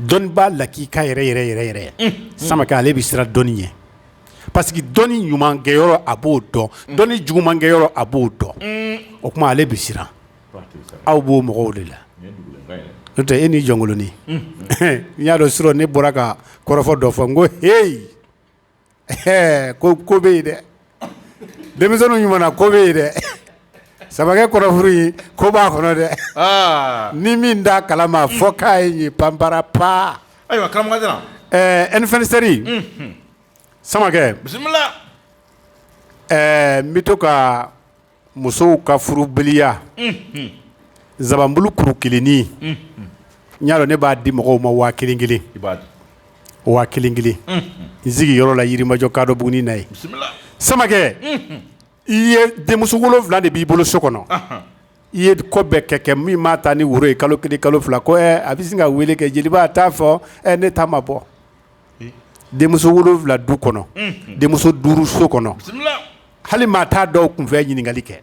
dɔnni b'a la k'i ka yɛrɛ yɛrɛ yɛrɛ yɛrɛ samakɛ ale bɛ siran dɔnni ye parce que dɔnni ɲuman kɛyɔrɔ a b'o dɔn dɔnni juguman kɛyɔrɔ a b'o dɔn o tuma ale bɛ siran aw b'o mɔgɔw de la n'o tɛ e ni jɔnkolonin n y'a dɔn surɔ ne bɔra ka kɔrɔfɔ dɔ fɔ n ko heyi ko ko bɛ yen dɛ denmisɛnw ɲuman ko bɛ yen dɛ samakɛ kɔrɔfɔ in ko b'a kɔnɔ dɛ ni min da kala ma a fɔ k'a ye panpra pan ayiwa nfasɛri samakɛ bisimila ɛɛ n bɛ to ka musow ka furubaliya zabanbulu kuru kelennin ya ne b'a di mɔgɔw ma waa kelen kelen waa kelen kelen n sigi yɔrɔ la yirimajɔ kadɔbugunin na yen samakɛ i ye denmuso wolonwula de b'i bolo so kɔnɔ i ye ko bɛɛ kɛ kɛ min mana taa ni woro ye kalo kelen kalo fila a bɛ sin ka wele kɛ jeliba t'a fɔ ne taama ma bɔ denmuso wolonwula du kɔnɔ denmuso duuru so kɔnɔ hali maa tɛ dɔw kun fɛ ɲininkali kɛ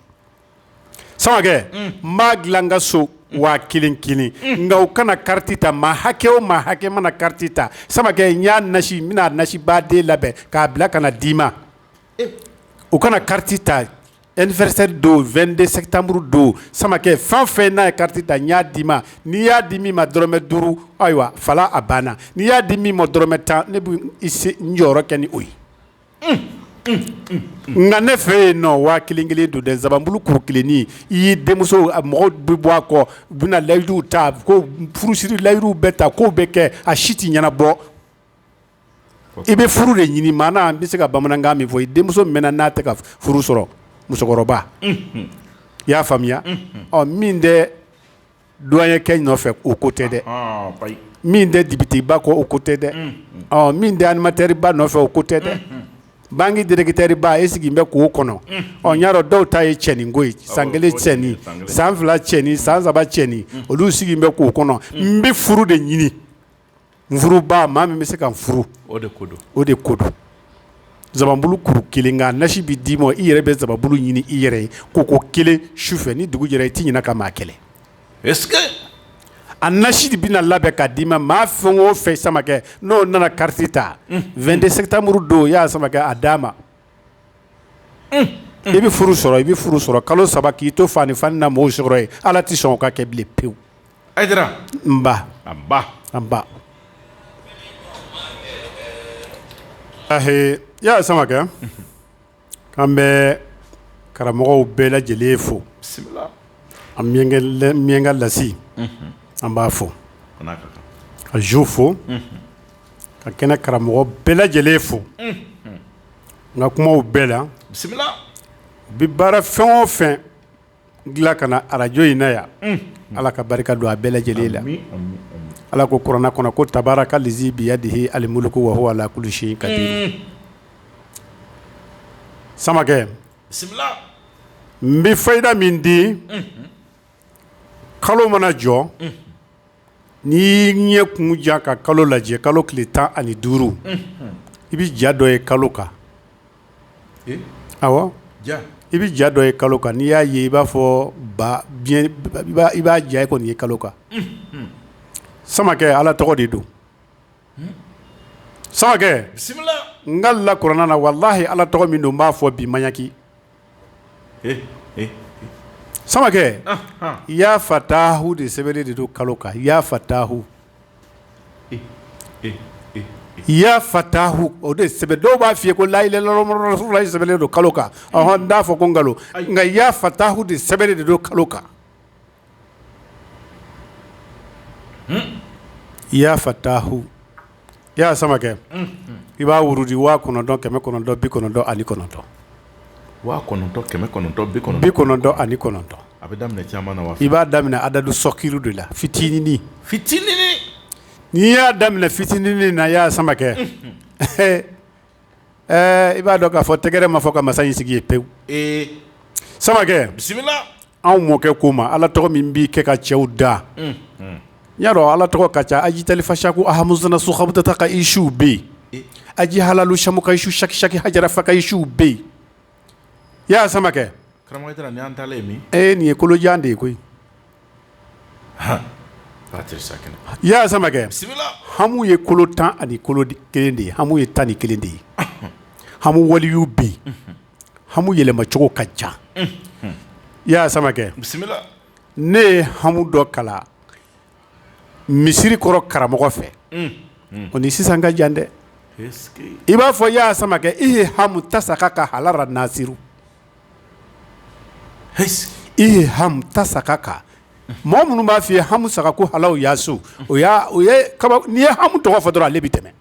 samakɛ n b'a dilan n ka so waa kelen kelen nka u kana kariti ta maa hakɛ o maa hakɛ mana kariti ta samakɛ n y'a nasi n bɛna nasiba de labɛn k'a bila ka na d'i ma u kana kariti ta Anniversaire don vingt-deux septembre don samakɛ fɛn fɛn n'a ye karata da y'a d'i ma n'i y'a di min ma dɔrɔmɛ duuru ayiwa voilà a banna n'i y'a di min ma dɔrɔmɛ tan ne jɔyɔrɔ kɛ ni o ye nka ne fɛ yen nɔ waa kelen kelen don dɛ zabanbulu kuru kelen i y'i denmuso mɔgɔw bɛ bɔ a kɔ bɛna layiduw ta ko furusiri layiduw bɛɛ ta k'o bɛ kɛ a si tɛ ɲɛnabɔ i bɛ furu de ɲini maa n bɛ se ka bamanankan min fɔ i denmuso mɛnna a tɛ ka furu sɔrɔ musokɔrɔba i y'a faamuya ɔ min tɛ douanier nɔfɛ o ko tɛ dɛ min tɛ depiteba kɔ o ko tɛ dɛ min tɛ animatɛriba nɔfɛ o ko tɛ dɛ banki dirɛkitɛriba i sigilen bɛ k'o kɔnɔ ɔ y'a dɔn dɔw ta ye cɛnin ko san kelen cɛnin san fila cɛnin san saba cɛnin olu sigilen bɛ k'o kɔnɔ n bɛ furu de ɲini maa min bɛ se ka furu o de o de ko zabanbulu kuru kelen nasi bɛ d'i ma i yɛrɛ bɛ zabanbulu ɲini i yɛrɛ ye ko ko kelen su fɛ ni dugu jɛra i tɛ ɲɛna ka maa kɛlɛ a nasi de bɛna labɛn ka d'i ma maa fɛn o fɛn samakɛ n'o nana kari ta vingt-deux septembre don o y'a sama a d'a ma i bɛ furu sɔrɔ i bɛ furu sɔrɔ kalo saba k'i to faa ni fa na mɔgɔw sɔrɔ ye ala tɛ sɔn ka kɛ bilen pewu A nba a ba a ba i y'a samakɛ an bɛ karamɔgɔw bɛɛ lajɛlen fo an minyanka lase an b'a fɔ ka zo fo ka kɛnɛ karamɔgɔ bɛɛ lajɛlen fo n ka kumaw bɛɛ la u bɛ baara fɛn o fɛn dilan ka na arajo in na yan ala ka barika don a bɛɛ lajɛlen la ala ko kuranɛ kɔnɔ ko tabaaraka lizi biyadihi alimuluku wahuwa ala kuli sayi kadi samakɛ n bɛ fayida min di kalo mana jɔ N'i y'i ɲɛ kun jan ka kalo lajɛ kalo tile tan ani duuru i bɛ ja dɔ ye kalo kan i bɛ ja dɔ ye kalo kan n'i y'a ye i b'a fɔ i b'a ja kɔni ye kalo kan samakɛ ala tɔgɔ de don samakɛ n kalen kuranɛ na walahi ala tɔgɔ min don n b'a fɔ bi maɲaki samakɛ ya fatahu de sɛbɛnnen de don kalo kan ya fatahu ya fatahu o de sɛbɛn dɔw b'a fɔ i ye ko layi sɛbɛnnen don kalo kan n t'a fɔ ko nkalon nka ya fatahu de sɛbɛnnen de don kalo kan ya fatahu ya samakɛ i b'a wuridi waa kɔnɔntɔn kɛmɛ kɔnɔntɔn bi kɔnɔntɔn ani kɔnɔntɔn bi kɔnɔntɔn ani kɔnɔntɔn a bɛ daminɛ i b'a daminɛ adadu sokiru de la fitinin fitinin n'i y'a daminɛ fitinin na ya samakɛ i b'a dɔn k'a fɔ tɛgɛrɛ ma fɔ ka masa in sigi ye pewu sama bisimila Anw mɔkɛ ko ma ala tɔgɔ min b'i kɛ ka cɛw da ya dɔn ala tɔgɔ ka ca ajitali fasa ko ahamu sokabutata ka isuw bɛ yen aji halalu samu ka isu sakisaki hafasa ka isuw bɛ yen ya samakɛ nin ye kolojan de ye koyi ya samakɛ hamu ye kolo tan ani kelen de ye hamu ye tan ni kelen de ye hamu waliyuw bɛ hamu yɛlɛmacogo ka ca ya samakɛ bisimila ne ye hamu dɔ kalan misiri kɔrɔ karamɔgɔ fɛ o ni sisan ka jan dɛ i b'a fɔ ya samakɛ i ye hamu ta sa ka ka hala nasiru i ye hamu ta sa ka ka mɔgɔ minnu b'a fɔ i ye hamu sakaku halawu yasu o n'i ye hamu tɔgɔ fɔ dɔrɔn ale bɛ tɛmɛ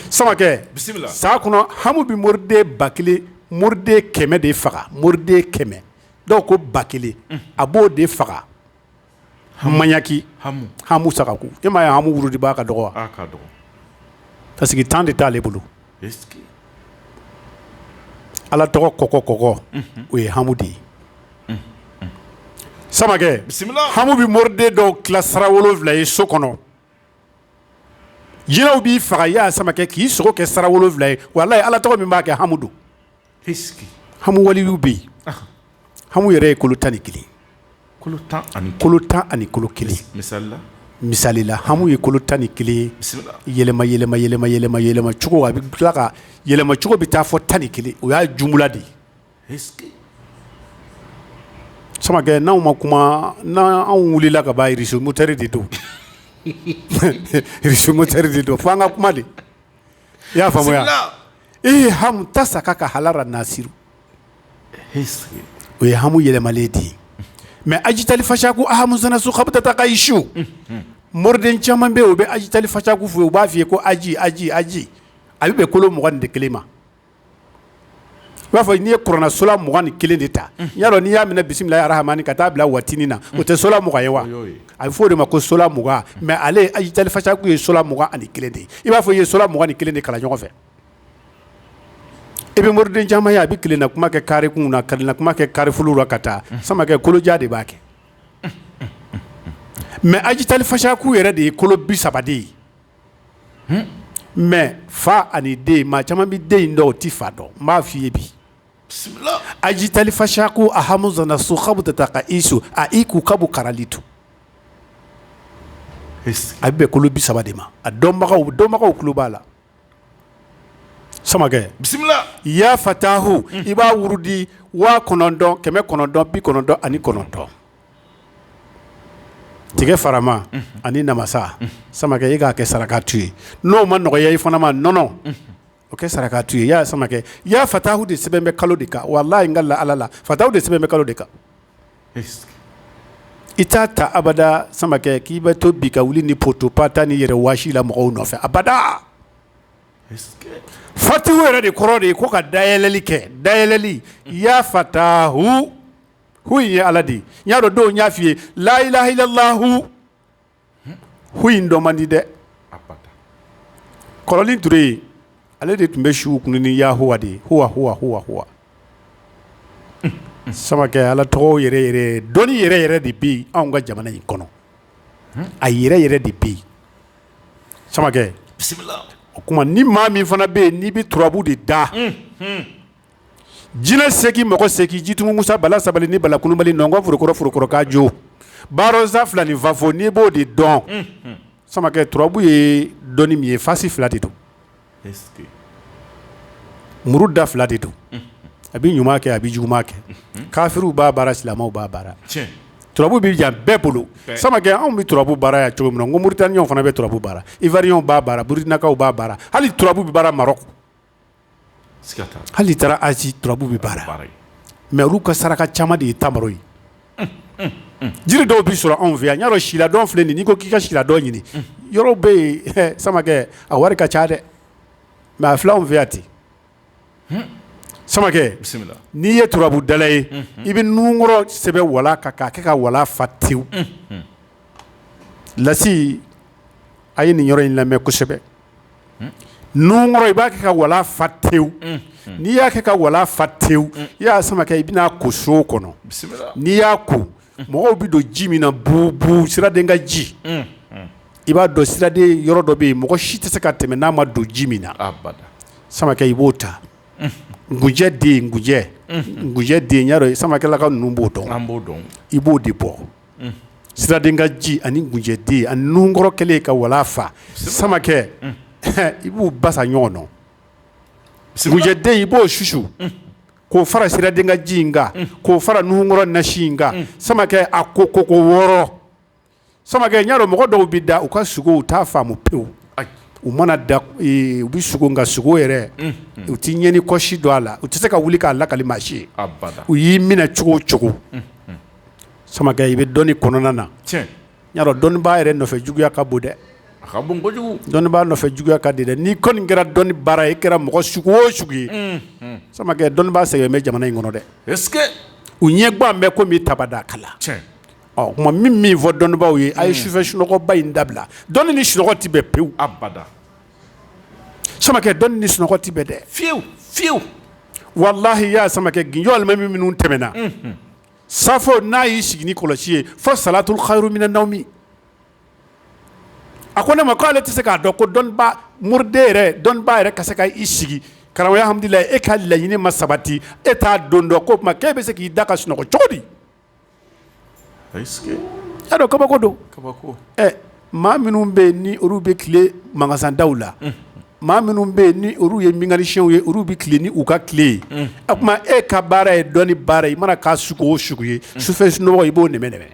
samakɛ bisimila san kɔnɔ hamu bɛ moriden ba kelen moriden kɛmɛ de faga moriden kɛmɛ dɔw ko ba kelen a b'o de faga mayaki hamu sagaku i m'a ye hamu wuridibaa ka dɔgɔ wa parce que temps de t'ale bolo ala tɔgɔ kɔ kɔ kɔ o ye hamu de ye samakɛ bisimila hamu bɛ moriden dɔw tila sara wolonfila ye so kɔnɔ jinɛw b'i faga ya samakɛ k'i sogo kɛ sara wolonfila ye walahi Ala tɔgɔ min b'a kɛ hamu don, est ce que hamu waliyuw bɛ yen, anhan, hamu yɛrɛ ye kolo 11 ye, kolo 11, kolo 11, misali la, misali la hamu ye kolo 11 ye, bisimila, yɛlɛma yɛlɛma yɛlɛma yɛlɛma yɛlɛma cogo a bɛ tila ka yɛlɛma cogo bɛ taa fo 11 o y'a jumla de ye samakɛ n'aw ma kuma n' anw wulila ka bazomotari de donsomotari de don fo an ka kuma de i y'a faamuya ee hamu ta sa ka ka hala nasiru o ye hamu yɛlɛma de ye mais ajitali fasa ko ahamu sokabutata ka isu moriden caman bɛ u bɛ ajitali fasa ko fɔ u b'a fɔ i ye ko aji aji aji a bɛ bɛn kolo mugan ni kelen ma i b'a fɔ n'i ye kuranɛ sola mugan ni kelen de ta y'a dɔn n'i y'a minɛ bisimila arahamani ka taa bila watiini na o tɛ sola mugan ye wa a bɛ fɔ o de ma ko sola mugan mɛ ale ajitali fasaku ye sola mugan ani kelen de i b'a fɔ ye sola mugan ni kelen de kala ɲɔgɔn fɛ i bɛ mori camanma ye a bɛ na kuma kɛ kariri kun na karila kuma kɛ karif la ka taa sama kolojan de b'a kɛ mɛ ajitali fasaku yɛrɛ de ye kolo bi saba de ye mɛ fa ani den maa caman bɛ den dɔn u tɛ fa dɔn n b'a fɔ i ye bi ajitali fasaku a hami so bɛ taa ka i so a i k'u ka bɔ kalali to a bɛ bɛn kolo bi saba de ma a dɔnbagaw dɔnbagaw tulo b'a la samakɛ bisimila ya fatahu i b'a wurudi waa kɔnɔntɔn kɛmɛ kɔnɔntɔn bi kɔnɔntɔn ani kɔnɔntɔn tigɛ farama ani namasa samakɛ i k'a kɛ sarakatu ye n'o ma nɔgɔya i fana ma nɔnɔ o kɛ sarakatu ye i y'a ye samakɛ ya fatahu de sɛbɛn bɛ kalo de kan walahi n kalen Ala la fatahu de sɛbɛn bɛ kalo de kan i t'a ta abada samakɛ k'i bɛ to bi ka wuli ni poto pas ta n'i yɛrɛ waasi i la mɔgɔw nɔfɛ abada fatihu yɛrɛ de kɔrɔ de ye ko ka dayɛlɛli kɛ dayɛlɛli yafatahu hu in ye ala de ye n y'a dɔn dɔ y'a fɔ i ye layilahilalaho hu in dɔn man di dɛ Kɔrɔnin Ture ale de tun bɛ su kun ni yahuwa de ye samakɛ ala tɔgɔ yɛrɛ dɔnnii yɛrɛ yɛrɛ de bɛ yen anw ka jamana in kɔnɔ a yɛrɛ yɛrɛ de bɛ yen samakɛ o tuma ni maa min fana bɛ yen n'i bɛ turabu de da jinɛ seki mɔgɔ seki Jitumu Musa Bala sabali ni Bala kunubali nɔnkɔn forokɔrɔ forokɔrɔkajo Baarɔnsa fila ni fafo n'i b'o de dɔn samakɛ turabu ye dɔnni min ye fasi fila de don muru da fila de don a bɛ ɲuman kɛ a bɛ juguman kɛ kafiriw b'a baara silamɛw b'a baara turabu bɛ yan bɛɛ bolo samakɛ anw bɛ turabu baara yan cogo min na n ko Mauritanienw fana bɛ turabu baara Ivoirien b'a baara Burkinakaw b'a baara hali turabu bɛ baara Maroc hali taara Haïti turabu bɛ baara mɛ olu ka saraka caman de ye tama ye jiri dɔw bɛ sɔrɔ anw fɛ yan n y'a dɔn sila dɔn filɛ nin ko k'i ka sila dɔn ɲini yɔrɔ bɛ yen samakɛ a wari ka ca dɛ mɛ a fula anw fɛ yan ten samakɛ n'i ye turabudala ye i bɛ nunkɔrɔ sɛbɛn wala ka kɛ ka wala fa tewu lasi a ye nin yɔrɔ in lamɛn kosɛbɛ i b'a kɛ ka wala fa tewu n'i y'a kɛ ka wala fa tewu yaa samakɛ i bɛn'a ko so kɔnɔ n'i y'a ko mɔgɔw bɛ don ji min na bu bu siraden ka ji i b'a dɔn siraden yɔrɔ dɔ bɛ yen mɔgɔ si tɛ se ka tɛmɛ n'a ma don ji min na samakɛ i b'o ta gujɛ den gujɛ gujɛ den ya ye samakɛla ka ninnu b'o dɔn b' dɔn i b'o de bɔ siraden ka ji ani gujɛden ani nunkɔrɔ kɛlen ka wala fa samakɛ i b'u ba ɲɔgɔn dɔn gujɛden i b'o susu k'o fara siraden ka ji in kan k'o fara nunkɔrɔ nasi in kan samakɛ a ko ko ko wɔɔrɔ samakɛ ɲa mɔgɔ dɔw bɛ da u ka sugo u t'a faamu pewu u mana da u bɛ sugo ka sugo yɛrɛ u tɛ ɲɛ ni kɔ si dɔn a la u tɛ se ka wuli k'a lakali maa si ye u y'i minɛ cogo cogo samakɛ i bɛ dɔnni kɔnɔna na dɔnnibaa yɛrɛ nɔfɛ juguya ka bon dɛ dɔnnibaa nɔfɛ juguya ka di dɛ n'i kɔni kɛra dɔnni baara i kɛra mɔgɔ sugu o sugu ye samakɛ dɔnnibaa sɛbɛ bɛ jamana in kɔnɔ dɛ u ɲɛ gan bɛ ko bɛ tabadaa kala o tuma n bɛ min fɔ dɔnnibaw ye a ye sufɛ sunɔgɔba in dabila dɔnni ni su tɛ bɛn pewu abada samakɛ dɔnni ni sunɔgɔ tɛ bɛn dɛ fiyewu fiyewu walahi yaa samakɛ gese walima minnu tɛmɛna safo n'a y'i sigi ni kɔlɔsi ye fo salatul khairu minan nawmi a ko ne ma ko ale tɛ se k'a dɔn ko dɔnniba moriden yɛrɛ dɔnniba yɛrɛ ka se ka i sigi karamɔgɔya hamdulilahi e ka laɲini ma sabati e t'a don dɔn ko o tuma k'e bɛ se k'i da ka sunɔgɔ cogo di y'a dɔn kabako don kabako ɛ maa minnu bɛ yen ni olu bɛ tile magasandaw la maa minnu bɛ yen ni olu ye mekanisiyɛnw ye olu bɛ tile ni u ka kile ye o tuma e ka baara ye dɔnni baara ye i mana kɛ sugu o sugu ye sufɛ sunɔgɔ i b'o nɛmɛ nɛmɛ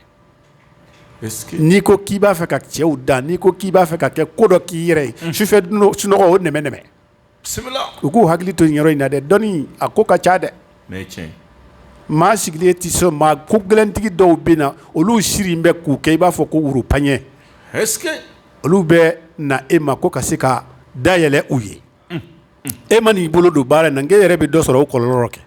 n'i ko k'i b'a fɛ ka cɛw dan n'i ko k'i b'a fɛ ka kɛ ko dɔ k'i yɛrɛ ye sufɛ sunɔgɔ o nɛmɛ nɛmɛ u k'u hakili to yɔrɔ in na dɛ dɔnni a ko ka ca dɛ maa sigilen tɛ so maa ko gɛlɛntigi dɔw bɛ na olu sirilen bɛ k'u kɛ i b'a fɔ ko woro paɲɛ olu bɛ na e ma ko ka se ka da yɛlɛ u ye e mana i bolo don baara na e yɛrɛ bɛ dɔ sɔrɔ o kɔlɔlɔ rɔ kɛ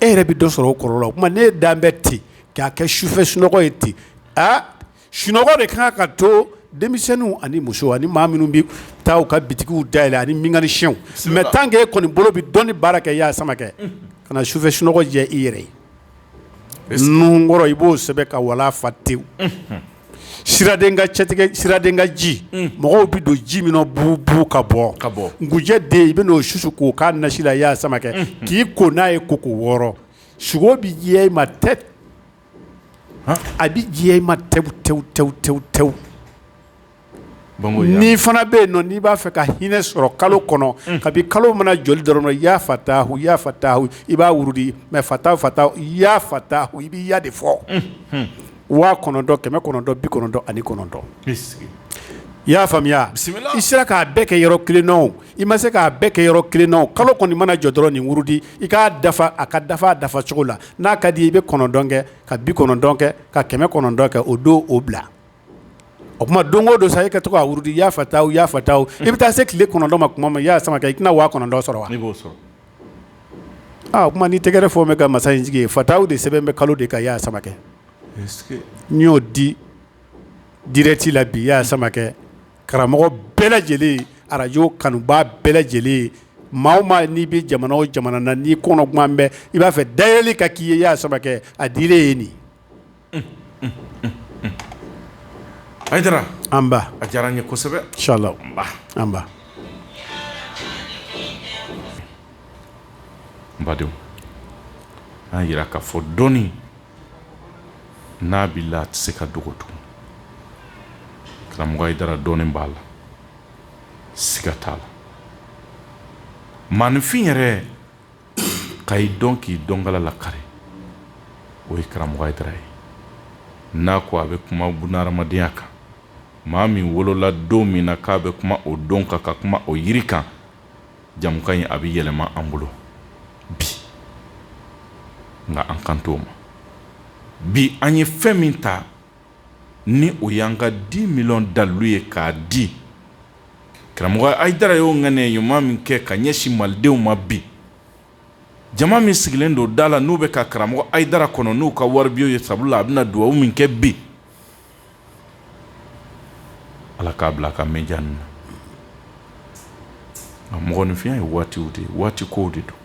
e yɛrɛ bɛ dɔ sɔrɔ o kɔlɔlɔ o tuma ne dan bɛ ten k'a kɛ sufɛ sunɔgɔ ye ten aa Sunɔgɔ ka kan ka to denmisɛnninw ani muso ani maa minnu bɛ taa u ka bitigiw da yɛlɛ ani mekanisiyɛnw ma tan kɛ e kɔni bolo bɛ dɔnni baara kɛ yaa samakɛ ka sufɛ sunɔgɔ jɛ i yɛrɛ ye nunkɔrɔ i b'o sɛbɛn ka wala fa tewu siraden ka cɛtigɛ siraden ka ji mɔgɔw bɛ don ji min bu bu ka bɔ ka bɔ gujɛ den i b'o susu k'o kɛ a nasi la yaa samakɛ k'i ko n'a ye ko ko wɔɔrɔ sugo bɛ diɲɛ i ma dɛ A bɛ diɲɛ i ma tew tew tew tew tew nin fana bɛ yen nɔn n'i b'a fɛ ka hinɛ sɔrɔ kalo kɔnɔ kabi kalo mana jɔ dɔrɔn ya fatahu ya fata i b'a wurudi ma fata fata ya fatahu i bɛ ya de fɔ waa kɔnɔntɔn kɛmɛ kɔnɔntɔn bi kɔnɔntɔn ani kɔnɔntɔn i y'a faamuya i sera k'a bɛɛ kɛ yɔrɔ kelen na o i ma se k'a bɛɛ kɛ yɔrɔ kelen na o kalo kɔni mana jɔ dɔrɔn nin wurudi i k'a dafa a ka dafa dafa cogo la n'a ka di i bɛ kɔnɔntɔn kɛ ka bi kɔnɔntɔn kɛ ka kɛmɛ kɔnɔntɔn kɛ o don o bila o tuma don o don sa i ka to k'a wurudi ya fatahu ya fatahu i bɛ taa se tile kɔnɔntɔn ma tuma min i y'a sama kɛ i tɛna waa kɔnɔntɔn sɔrɔ wa o tuma ni tɛgɛrɛ fɔ n bɛ ka masa in sigi ya fatahu de sɛbɛn bɛ kalo de kan y'a sama kɛ n y'o di dirɛti la bi i y'a sama karamɔgɔ bɛɛ lajɛlen arajo kanubaa bɛɛ lajɛlen maa o maa n'i bɛ jamana o jamana na n'i kɔnɔgannen bɛ i b'a fɛ dayɛlɛ ka k'i ye y'a saba kɛ a dilen ye nin a diyara an a diyara ye kosɛbɛ sala an badenw an jira ka fɔ dɔɔnin n'a b'i la a tɛ se ka dogo tugun karamɔgɔ Hayidara dɔnni b'a la siga t'a la maaninfin yɛrɛ ka i dɔn k'i dɔnkala lakari o ye karamɔgɔ Hayidara ye n'a ko a bɛ kuma bunadamadenya kan maa min wolola don min na k'a bɛ kuma o don kan ka kuma o yiri kan jamukan in a bɛ yɛlɛma an bolo bi nka an kan t'o ma bi an ye fɛn min ta ni o y'an ka dix mille dalilu ye k'a di karamɔgɔ Hayidara y'o ŋaniya ɲuman min kɛ ka ɲɛsin malidenw ma bi jama min sigilen don da la n'u bɛ ka karamɔgɔ Hayidara kɔnɔ n'u ka waribiyew ye sabu la a bɛna na dugawu min kɛ bi Ala k'a bila ka mɛɛn ja na a mɔgɔninfinya ye waati de ye waati ko de don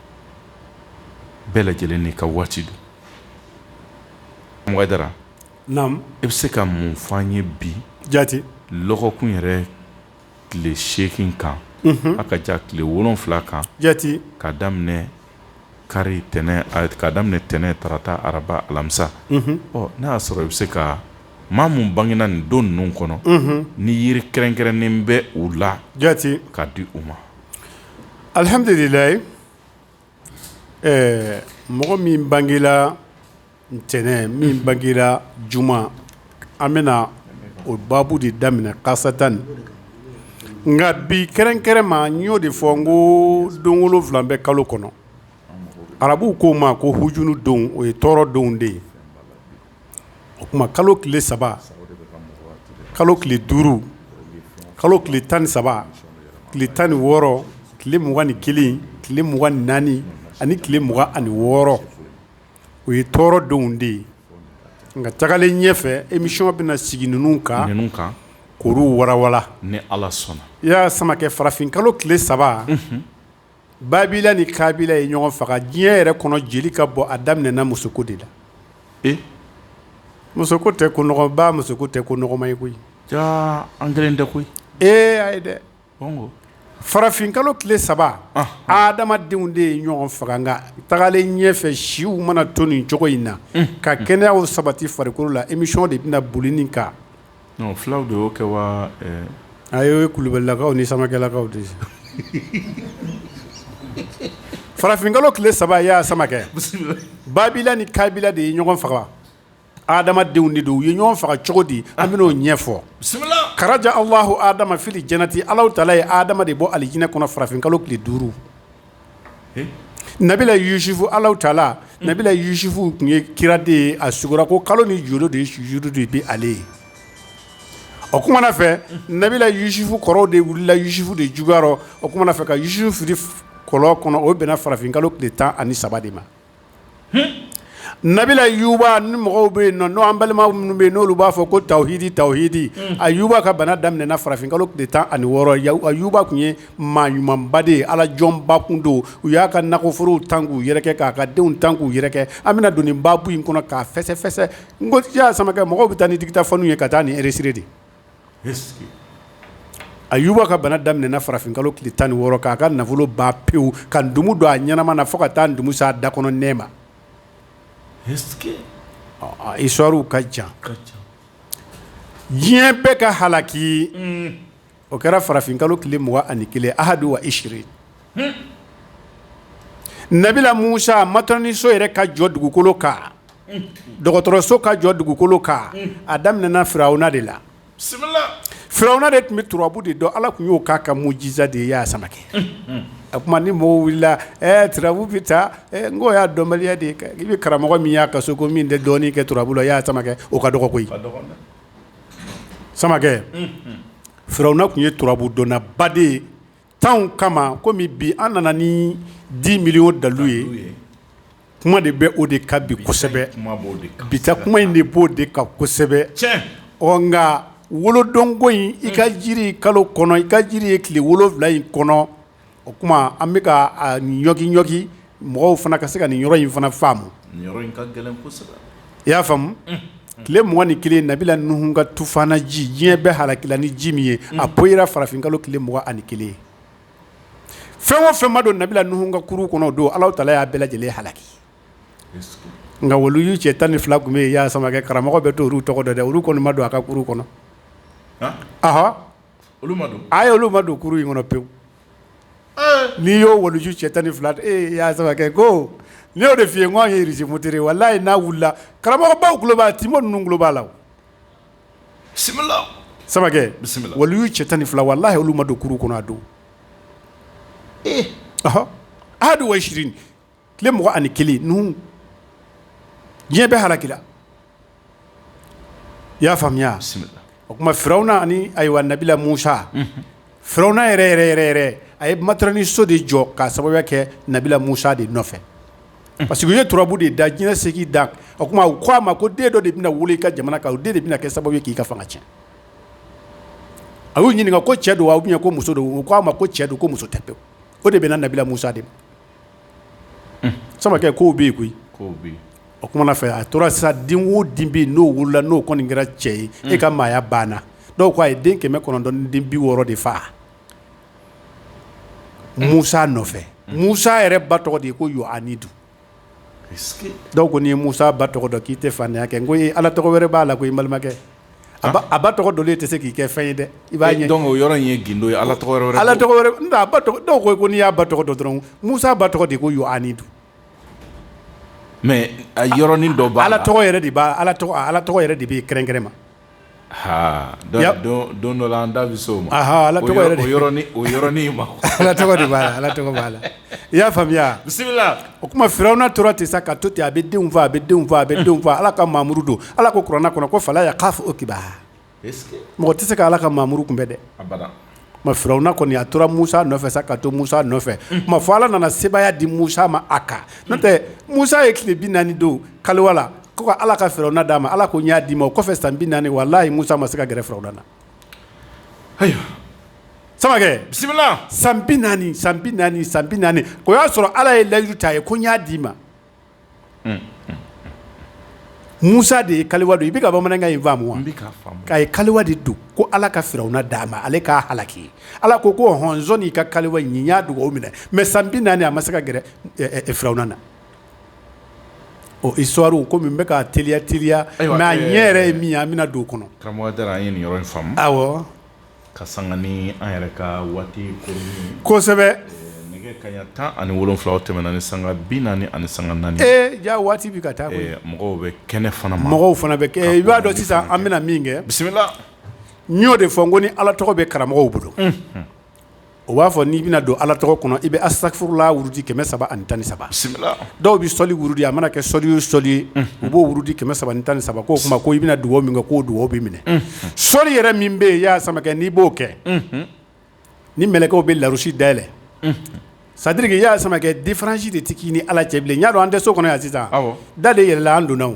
bɛɛ lajɛlen n'i ka waati don Hayidara i bɛ se ka mun fɔ an ye bi jate kun yɛrɛ tile seegin kan a ka ca tile wolon wolonwula kan jate ka daminɛ kari tɛnɛn ka daminɛ tɛnɛn tarata araba alamisa ɔ n'a y'a sɔrɔ i bɛ se ka maa min bangena nin don ninnu kɔnɔ ni yiri kɛrɛnkɛrɛnnen bɛ u la jate ka di u ma alihamdulilayi ɛɛ mɔgɔ min bangela ntɛnɛn min bangera juma an bɛna o baabu de daminɛ karisasa tan ni nka bi kɛrɛnkɛrɛn ma n y'o de fɔ n ko don wolonfila bɛ kalo kɔnɔ arabuw k'o ma ko huzunu donw o ye tɔɔrɔ donw de ye o tuma kalo tile saba kalo tile duuru kalo tile tan ni saba tile tan ni wɔɔrɔ tile mugan ni kelen tile mugan ni naani ani tile mugan ani wɔɔrɔ o ye tɔɔrɔ donw de ye nka tagalen ɲɛ fɛ emisiyɔn bɛna sigi ninnu kan ninnu kan kuru warawa ni ala sɔnna i ya samakɛ farafin kalo tile saba babila ni kabila ye ɲɔgɔn faga diɲɛ yɛrɛ kɔnɔ jeli ka bɔ a daminɛna musoko de la muso tɛ musoko tɛ ko nɔgɔma ye koyi an kelen tɛ koyi ee a ye dɛ farafin kalo tile saba adamadenw de ye ɲɔgɔn faga tagalen ɲɛ fɛ siw mana to nin cogo in na ka kɛnɛya sabati farikolo la emisiyɔn de bɛna boli nin kan fulaw de y'o kɛ wa a ye kulubalilakaw ni samakɛlakaw de farafin kalo tile saba ya samakɛ babila ni kabila de ye ɲɔgɔn faga hadamadenw de don u ye ɲɔgɔn faga cogo di an bɛn'o ɲɛfɔ akaraja alahu adama fili janati ala taala ye adama de bɔ alijinɛ kɔnɔ farafin kalo tile duuru nabila yusufu ala taala nabila yusufu tun ye kira de ye a sugora ko kalo ni doolo de sujudu de bɛ ale ye o tuma na fɛ nabila yusufu kɔrɔw de wulila yusufu de juguya o tuma na fɛ ka yusufu fili kɔlɔn kɔnɔ o bɛnna farafin kalo tile tan ani saba de ma nabila ayuba ni mɔgɔw bɛ yen nɔ an balima minnu bɛ yen n'olu b'a fɔ ko tawhidi tawhidi ayuba ka bana daminɛna farafin kalo tile tan ani wɔɔrɔ ayuba tun ye maa ɲumanba de ye ala jɔnba kun don u y'a ka nakɔforow tan k'u yɛrɛkɛ k'a ka denw tan k'u yɛrɛkɛ an bɛna don nin baabu in kɔnɔ k'a fɛsɛfɛsɛ n ko ya samakɛ mɔgɔw bɛ taa ni dikita fɔ n'u ye ka taa ni hsirire de ayuba ka bana daminɛna farafin kalo tile tan ni wɔɔrɔ k'a ka nafolo ban pewu ka ntumu don a ɲɛnama na fo ka taa ntumu se a da kɔnɔ nɛ ma isituwari ka jan diɲɛ bɛɛ ka halaki o kɛra farafin kalo tile mugan ani kelen ahadu wa isirin Nabila musa a mat niso yɛrɛ ka jɔ dugukolo kan dɔgɔtɔrɔso ka jɔ dugukolo kan a daminɛna firawuna de la firawuna de tun bɛ turabu de dɔn ala tun y'o k'a ka mujiza de ye ya samakɛ a tuma ni mɔgɔw wulila tbu bɛ taa n ko y'a dɔnbaliya de i bɛ karamɔgɔ min y'a ka so ko min tɛ dɔnni kɛ turabu la ya samakɛ o ka dɔgɔ koyi samakɛ firawuna tun ye turabu dɔnnaba de ye tan kama kɔmi bi an nana ni di mili o dalu ye kuma de bɛ o de kan bi kosɛbɛ bi kuma in de b'o de kan kosɛbɛ ɔ nka wolodonko in i ka jiri kalo kɔnɔ i ka jiri ye tile wolonwula in kɔnɔ o tuma an bɛka ka ɲɔgɔnki ɲɔgɔnki mɔgɔw fana ka se ka nin yɔrɔ in fana faamu i y'a faamu tile mugan ni kelen nabila nuhu ka tufana ji diɲɛ bɛɛ halaki ni ji min ye a ko i farafin kalo tile mugan ani kelen fɛn o fɛnba don nabila nuhu ka kurun kɔnɔ don ala ta y'a bɛɛ lajɛlen halaki nka waliju cɛ tan ni fila tun bɛ yan sama karamɔgɔ bɛ to olu tɔgɔ dɛ olu kɔni ma don a ka kɔnɔ a olu ma don kurun in kɔnɔ pewu N'i y'o waliju cɛ tan ni fila e y'a samakɛ ko ni de f'i ye n' yezfutere walayi n'a wulila karamɔgɔbaw tulo b'a timo ninnu tulo b'a la samakɛ waliju cɛ tan ni fila walayi olu ma don kurun kɔnɔ a don eehadu wa tile mugan ani kelen n diɲɛ bɛɛ halaki i y'a faamuya o tuma firawuna ayiwa nabila musa firawuna yɛrɛ yɛrɛ yɛrɛ yɛrɛ a ye ma ni so de jɔ ka sababu kɛ nabila musa de nɔfɛ parce que ye turabu de da diɲɛ segin da o tuma u ko a ma ko den dɔ de bɛna wuli i ka jamana kan o den de bɛna kɛ sababu k'i ka fanga cɛn a y'u ɲininka ko cɛ don a ko muso don ko a ma ko cɛ don ko muso tɛ o de bɛna nabila musa de samakɛ ko bɛ yen koyi o tuma na fɛ a tora sa den wo den bɛ yen n'o wolola n'o kɔni kɛra cɛ ye e ka maaya banna dɔw ko a ye den kɛmɛ kɔnɔntɔn ni den bi wɔɔrɔ de faa musa nɔfɛ musa yɛrɛ ba tɔgɔ de ye ko yuhanidu dɔw ko n'i ye musa ba tɔgɔ dɔn k'i tɛ faantanya kɛ n ko ala tɔgɔ wɛrɛ b'a la koyi balimakɛ a ba tɔgɔ dɔn e tɛ se k'i kɛ fɛn ye dɛ i b'a ɲɛ dɔn o yɔrɔ in ye gundo ye ala tɔgɔ ala dɔw ko n'i y'a ba tɔgɔ dɔn dɔrɔn musa ba tɔgɔ de ko yuhanidu a yɔrɔnin dɔ ala tɔgɔ yɛrɛ de b' ala ala tɔgɔ yɛrɛ de b'i kɛrɛnkɛrɛn ma don dɔ an da bɛ o ma ala o yɔrɔ ma ala tɔgɔ b'a la I y'a faamuya bisimila o tuma firawuna tora ten sa ka to ten a bɛ denw faa a bɛ denw faa a bɛ denw faa ala ka muradu don ala ko kuranɛ kɔnɔ ko fa y'a'a fɔ o kiba mɔgɔ tɛ se k' ala ka muradu kunbɛn dɛ firawuna kɔni a tora musa nɔfɛ sa ka to musa nɔfɛ fɔ ala nana sebaaya di musa ma a kan n tɛ musa ye tile bi naani don kaliwa ko ala ka firawuna d'a ma ala ko n y'a d'i ma o kɔfɛ san bi naani walayi musa ma se ka gɛrɛ firawuna na Ayiwa samakɛ bisimila san bi naani san bi naani san bi naani o y'a sɔrɔ ala ye layidu ta a ye ko n y'a d'i ma musa de ye kaliwa don i bɛ ka bamanankan in faamu wa k'a ye kaliwa de don ko ala ka firawuna d'a ma ale k'a halaki ala ko ko hɔn i ka kaliwa in n y'a dugawu minɛ mɛ san bi naani a ma se ka gɛrɛ firawuna na isituwari kɔmi n bɛ k'a teliya teliya a ɲɛ yɛrɛ ye min ye an bɛna don kɔnɔ karamɔgɔ ye nin yɔrɔ faamu aw ka san an yɛrɛ ka waati kosɛbɛ tan ani wolonwula tɛmɛna ni sanga bi naani ani sanga naani ja waati bɛ ka taa mɔgɔw bɛ kɛnɛ fana mɔgɔw fana bɛ kɛ i b'a dɔn sisan an bɛna min kɛ bisimila n y'o de fɔ n ko ni ala tɔgɔ bɛ karamɔgɔ bolo o b'a fɔ n'i bɛna don ala tɔgɔ kɔnɔ i bɛ asafurula wurudi kɛmɛ saba ani tan ni saba dɔw bɛ sɔli wurudi a mana kɛ sɔli o sɔli ye u b'o wurudi kɛmɛ saba ani tan ni saba ko o tuma ko i bɛna dugawu min kɛ k'o dugawu bɛ minɛ sɔli yɛrɛ min bɛ yen i y'a samakɛ n'i b'o kɛ ni mɛlɛkɛw bɛ larusi dayɛlɛ sɛtadiri i y'a samakɛ difaransi de tɛ k'i ni ala cɛ bilen i y'a dɔn an tɛ so kɔnɔ yan sisan da de yɛlɛla an donna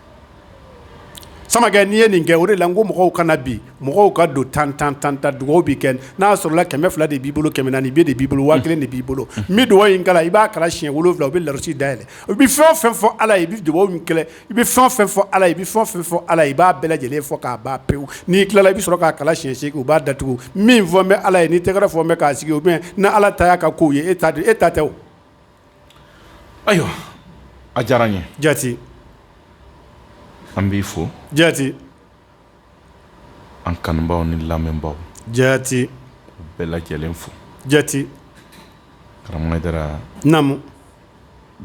samakɛ n'i ye nin kɛ o de la ko mɔgɔw kana bi mɔgɔw ka don tan tan tan tan dugawu bɛ kɛ n'a y'a sɔrɔ kɛmɛ fila de b'i bolo kɛmɛ naani de b'i bolo waa kelen de b'i bolo bɛ dugawu in i b'a kalan siɲɛ wolonwula u bɛ larusi da yɛlɛ i bɛ fɛn fɛn fɔ ala i bɛ dugawu kɛlɛ i bɛ fɛn fɛn fɔ ala i bɛ fɛn fɛn fɔ ala i b'a bɛɛ lajɛlen fɔ k'a ba pewu n'i tilala i bɛ sɔrɔ k'a kalan siɲɛ u b'a datugu min fɔ bɛɛ ala ye n'i tɛgɛrɛ fɔ k'a sigi u bɛ ni ala ta y'a ka' ye e e ta tɛ Ayiwa a diyara n ye jate an b'i fo jate an kanubaw ni lamɛnbaw jate bɛɛ lajɛlen fo jate karamɔgɔ hayidara naamu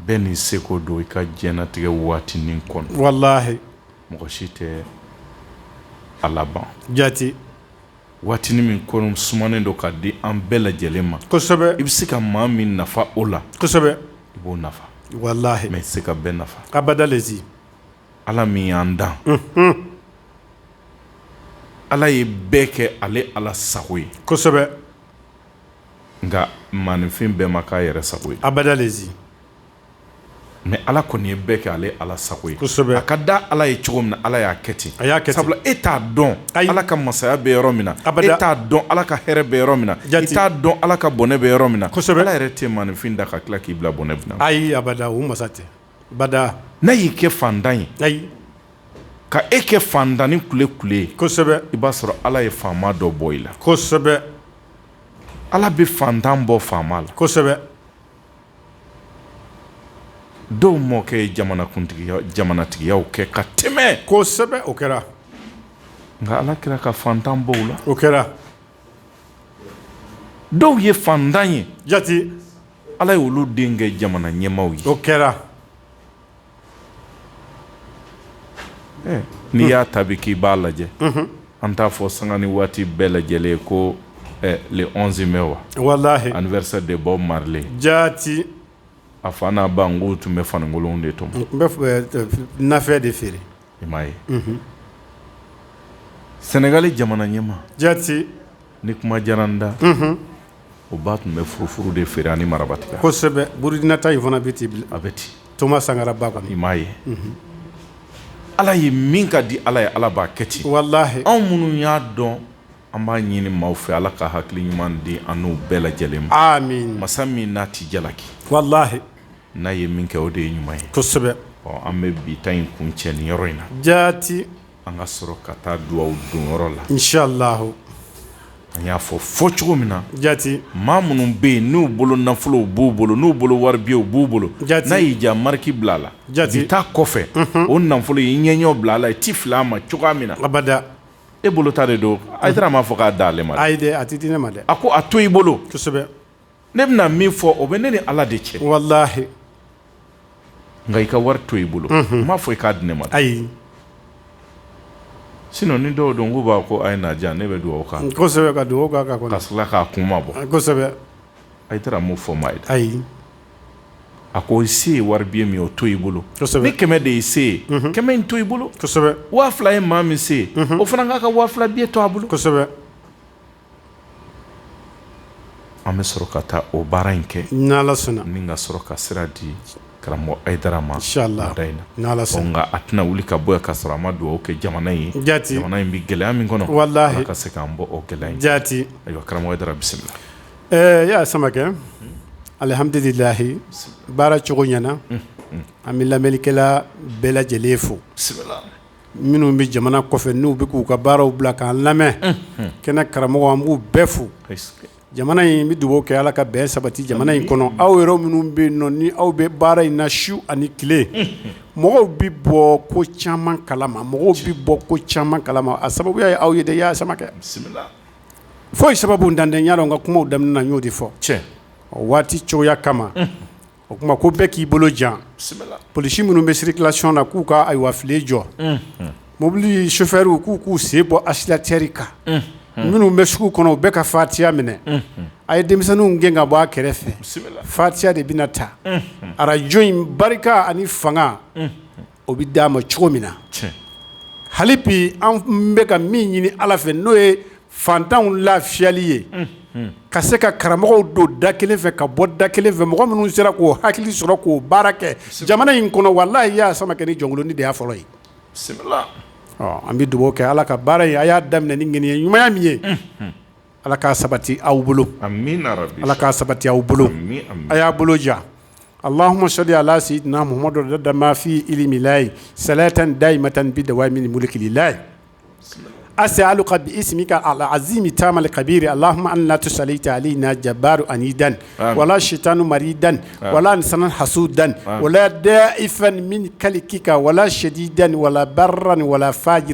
bɛɛ n'i seko don i ka diɲɛlatigɛ waatinin kɔnɔ walayi mɔgɔ si tɛ a laban jate waati min kɔni sumanen don k'a di an bɛɛ lajɛlen ma i bɛ se ka maa min nafa o la i b'o nafa walayi i tɛ se ka bɛɛ nafa abada ala min y'an dan ala ye bɛɛ kɛ ale ala sago ye nka maaninfin bɛɛ ma k'a yɛrɛ sago ye a mɛ ala kɔni ye bɛɛ kɛ ale ala sago ye a ka di ala ye cogo min na ala y'a kɛ ten a y'a kɛ sabula e t'a dɔn ala ka masaya bɛ yɔrɔ min na e t'a dɔn ala ka hɛrɛ bɛ yɔrɔ min na i t'a dɔn ala ka bɔnɛ bɛ yɔrɔ min na ala yɛrɛ tɛ maaninfin dan ka tila k'i bila bɔnɛ ayi a o masa tɛ abada n'a y'i kɛ fantan ye ayi ka e kɛ fantannin kulekule ye kosɛbɛ i b'a sɔrɔ ala ye faama dɔ bɔ i la kosɛbɛ ala bɛ fantan bɔ faama la kosɛbɛ dɔw mɔkɛ ye jamanakuntigiya jamanatigiyaw kɛ ka tɛmɛ kosɛbɛ o kɛra nka Ala tila ka faantan bɔ u la o kɛra dɔw ye faantan ye jaati Ala ye olu den kɛ jamanaɲɛmaaw ye o kɛra n'i y'a ta bi k'i b'a lajɛ an t'a fɔ sanga ni waati bɛɛ lajɛlen ko le bɛ wa wala ani bɛ de bɔ marilen jaati a fa n'a ba n ko tun bɛ fanikolon de tun bɛ feere i m'a ye sɛnɛgali jamana ɲɛmaa jaati ni kuma diyara n da, unhun, o ba tun bɛ furufuru de feere ani marabatiga, kosɛbɛ, Burukina ta in fana bɛ ten, a bɛ ten, Toma Sankara ba kɔni, i m'a ye, unhun, Ala ye min ka di Ala ye Ala b'a kɛ ten, walahi, anw minnu y'a dɔn an b'a ɲini maaw fɛ Ala ka hakili ɲuman di an n'u bɛɛ lajɛlen ma, amin, masa min n'a tɛ jalaki, walahi, n'a ye min kɛ o de ye ɲuman ye, kosɛbɛ, ɔ an bɛ bi ta in kuncɛ nin yɔrɔ in na, jaati. An ka sɔrɔ ka taa dugawu donyɔrɔ la insalahu an y'a fɔ fɔ cogo min na jaati maa minnu bɛ yen n'u bolo nafolo b'u bolo n'u bolo wari biyew b'u bolo jaati n'a y'i ja mariki bila a la jaati i taa kɔfɛ o nafolo y' ɲɛ ɲɔ bila a la i tɛ fili a ma cogoya min na abada e bolo ta de don Hayidara m'a fɔ k'a d'ale ma a a tɛ di ne ma dɛ a ko a to i bolo kosɛbɛ ne bɛna min fɔ o bɛ ne ni ala de cɛ walahi nka i ka wari to i bolo n m'a fɔ i k'a di ne ma ayi sinɔ ni dɔw don u b'a ko a ye na ne bɛ dugawu kɛ kosɛbɛ ka dugawu kɛ ka k'a kunmabɔ kosɛbɛ Hayidara m'o fɔ maa ye ayi a ko i se ye wari biye min o to i bolo ni kɛmɛ de i se ye kɛmɛ in to i bolo waa fila ye maa min se o fana k'a ka waa fila biye to a bolo kosɛbɛ An bɛ sɔrɔ ka taa o baara in kɛ ni ka sɔrɔ ka sira di karamɔgɔ ma nka a tɛna wuli ka bɔ ka sɔrɔ a ma dugawu kɛ jamana in ye jamana in bɛ gɛlɛya min kɔnɔ ka se k' bɔ o gɛlɛya jaati karamɔgɔ bisimila ɛɛ y'a Samakɛ alihamdulilayi baara cogoya na an bɛ lamɛnnikɛla bɛɛ lajɛlen fo minnu bɛ jamana kɔfɛ n'u bɛ k'u ka baaraw bila k'an lamɛn kɛnɛ karamɔgɔ an b'u bɛɛ fo jamana in bɛ dugawu kɛ ala ka bɛn sabati jamana in kɔnɔ aw yɛrɛ minnu bɛ nɔ ni aw bɛ baara in na su ani tile mɔgɔw bɛ bɔ ko caman kalama mɔgɔw bɛ bɔ ko caman kalama a sababu y' aw ye dɛ y' Samakɛ foyi sababuntan tɛ yan n ka kumaw daminɛ na n y'o de fɔ cɛ waati cogoya kama o tuma ko bɛɛ k'i bolo jan polisi minnu bɛ sirikilasiyɔn na k'u ka ayiwa file jɔ mobili sofɛriw k'u k'u sen bɔ asilatɛri kan minnu bɛ sugu kɔnɔ u bɛɛ ka fatiya minɛ a ye denmisɛnninw gɛn ka bɔ a kɛrɛfɛ fatiya de bɛna ta arajo in barika ani fanga o bɛ taama cogo min na hali bi an bɛ ka min ɲini ala fɛ n'o ye fantanw lafiyali ye ka se ka karamɔgɔw don da kelen fɛ ka bɔ da kelen fɛ mɔgɔ minnu sera k'o hakili sɔrɔ k'o baara kɛ jamana in kɔnɔ walayi y'a sama kɛ ni jɔnkolonin de y'a fɔlɔ ye an bɛ dugawu kɛ ala ka baara in a y'a daminɛ ni ŋaniya ɲumanya min ye Ala k'a sabati aw bolo ala k'a sabati aw bolo a y'a bolo ja alahuma sali ala sayidina muhamadu adada ma fi ilimilahi salatan dayimatan bidawami mulikilahi asialuka bisimika al azimi tamal kabiri alahuma an la tusalita alayina jabaru anidan wala sayitanan maridan wala insanan hasudan wala dayifan min kalikika wala sadidan wala baran wala faji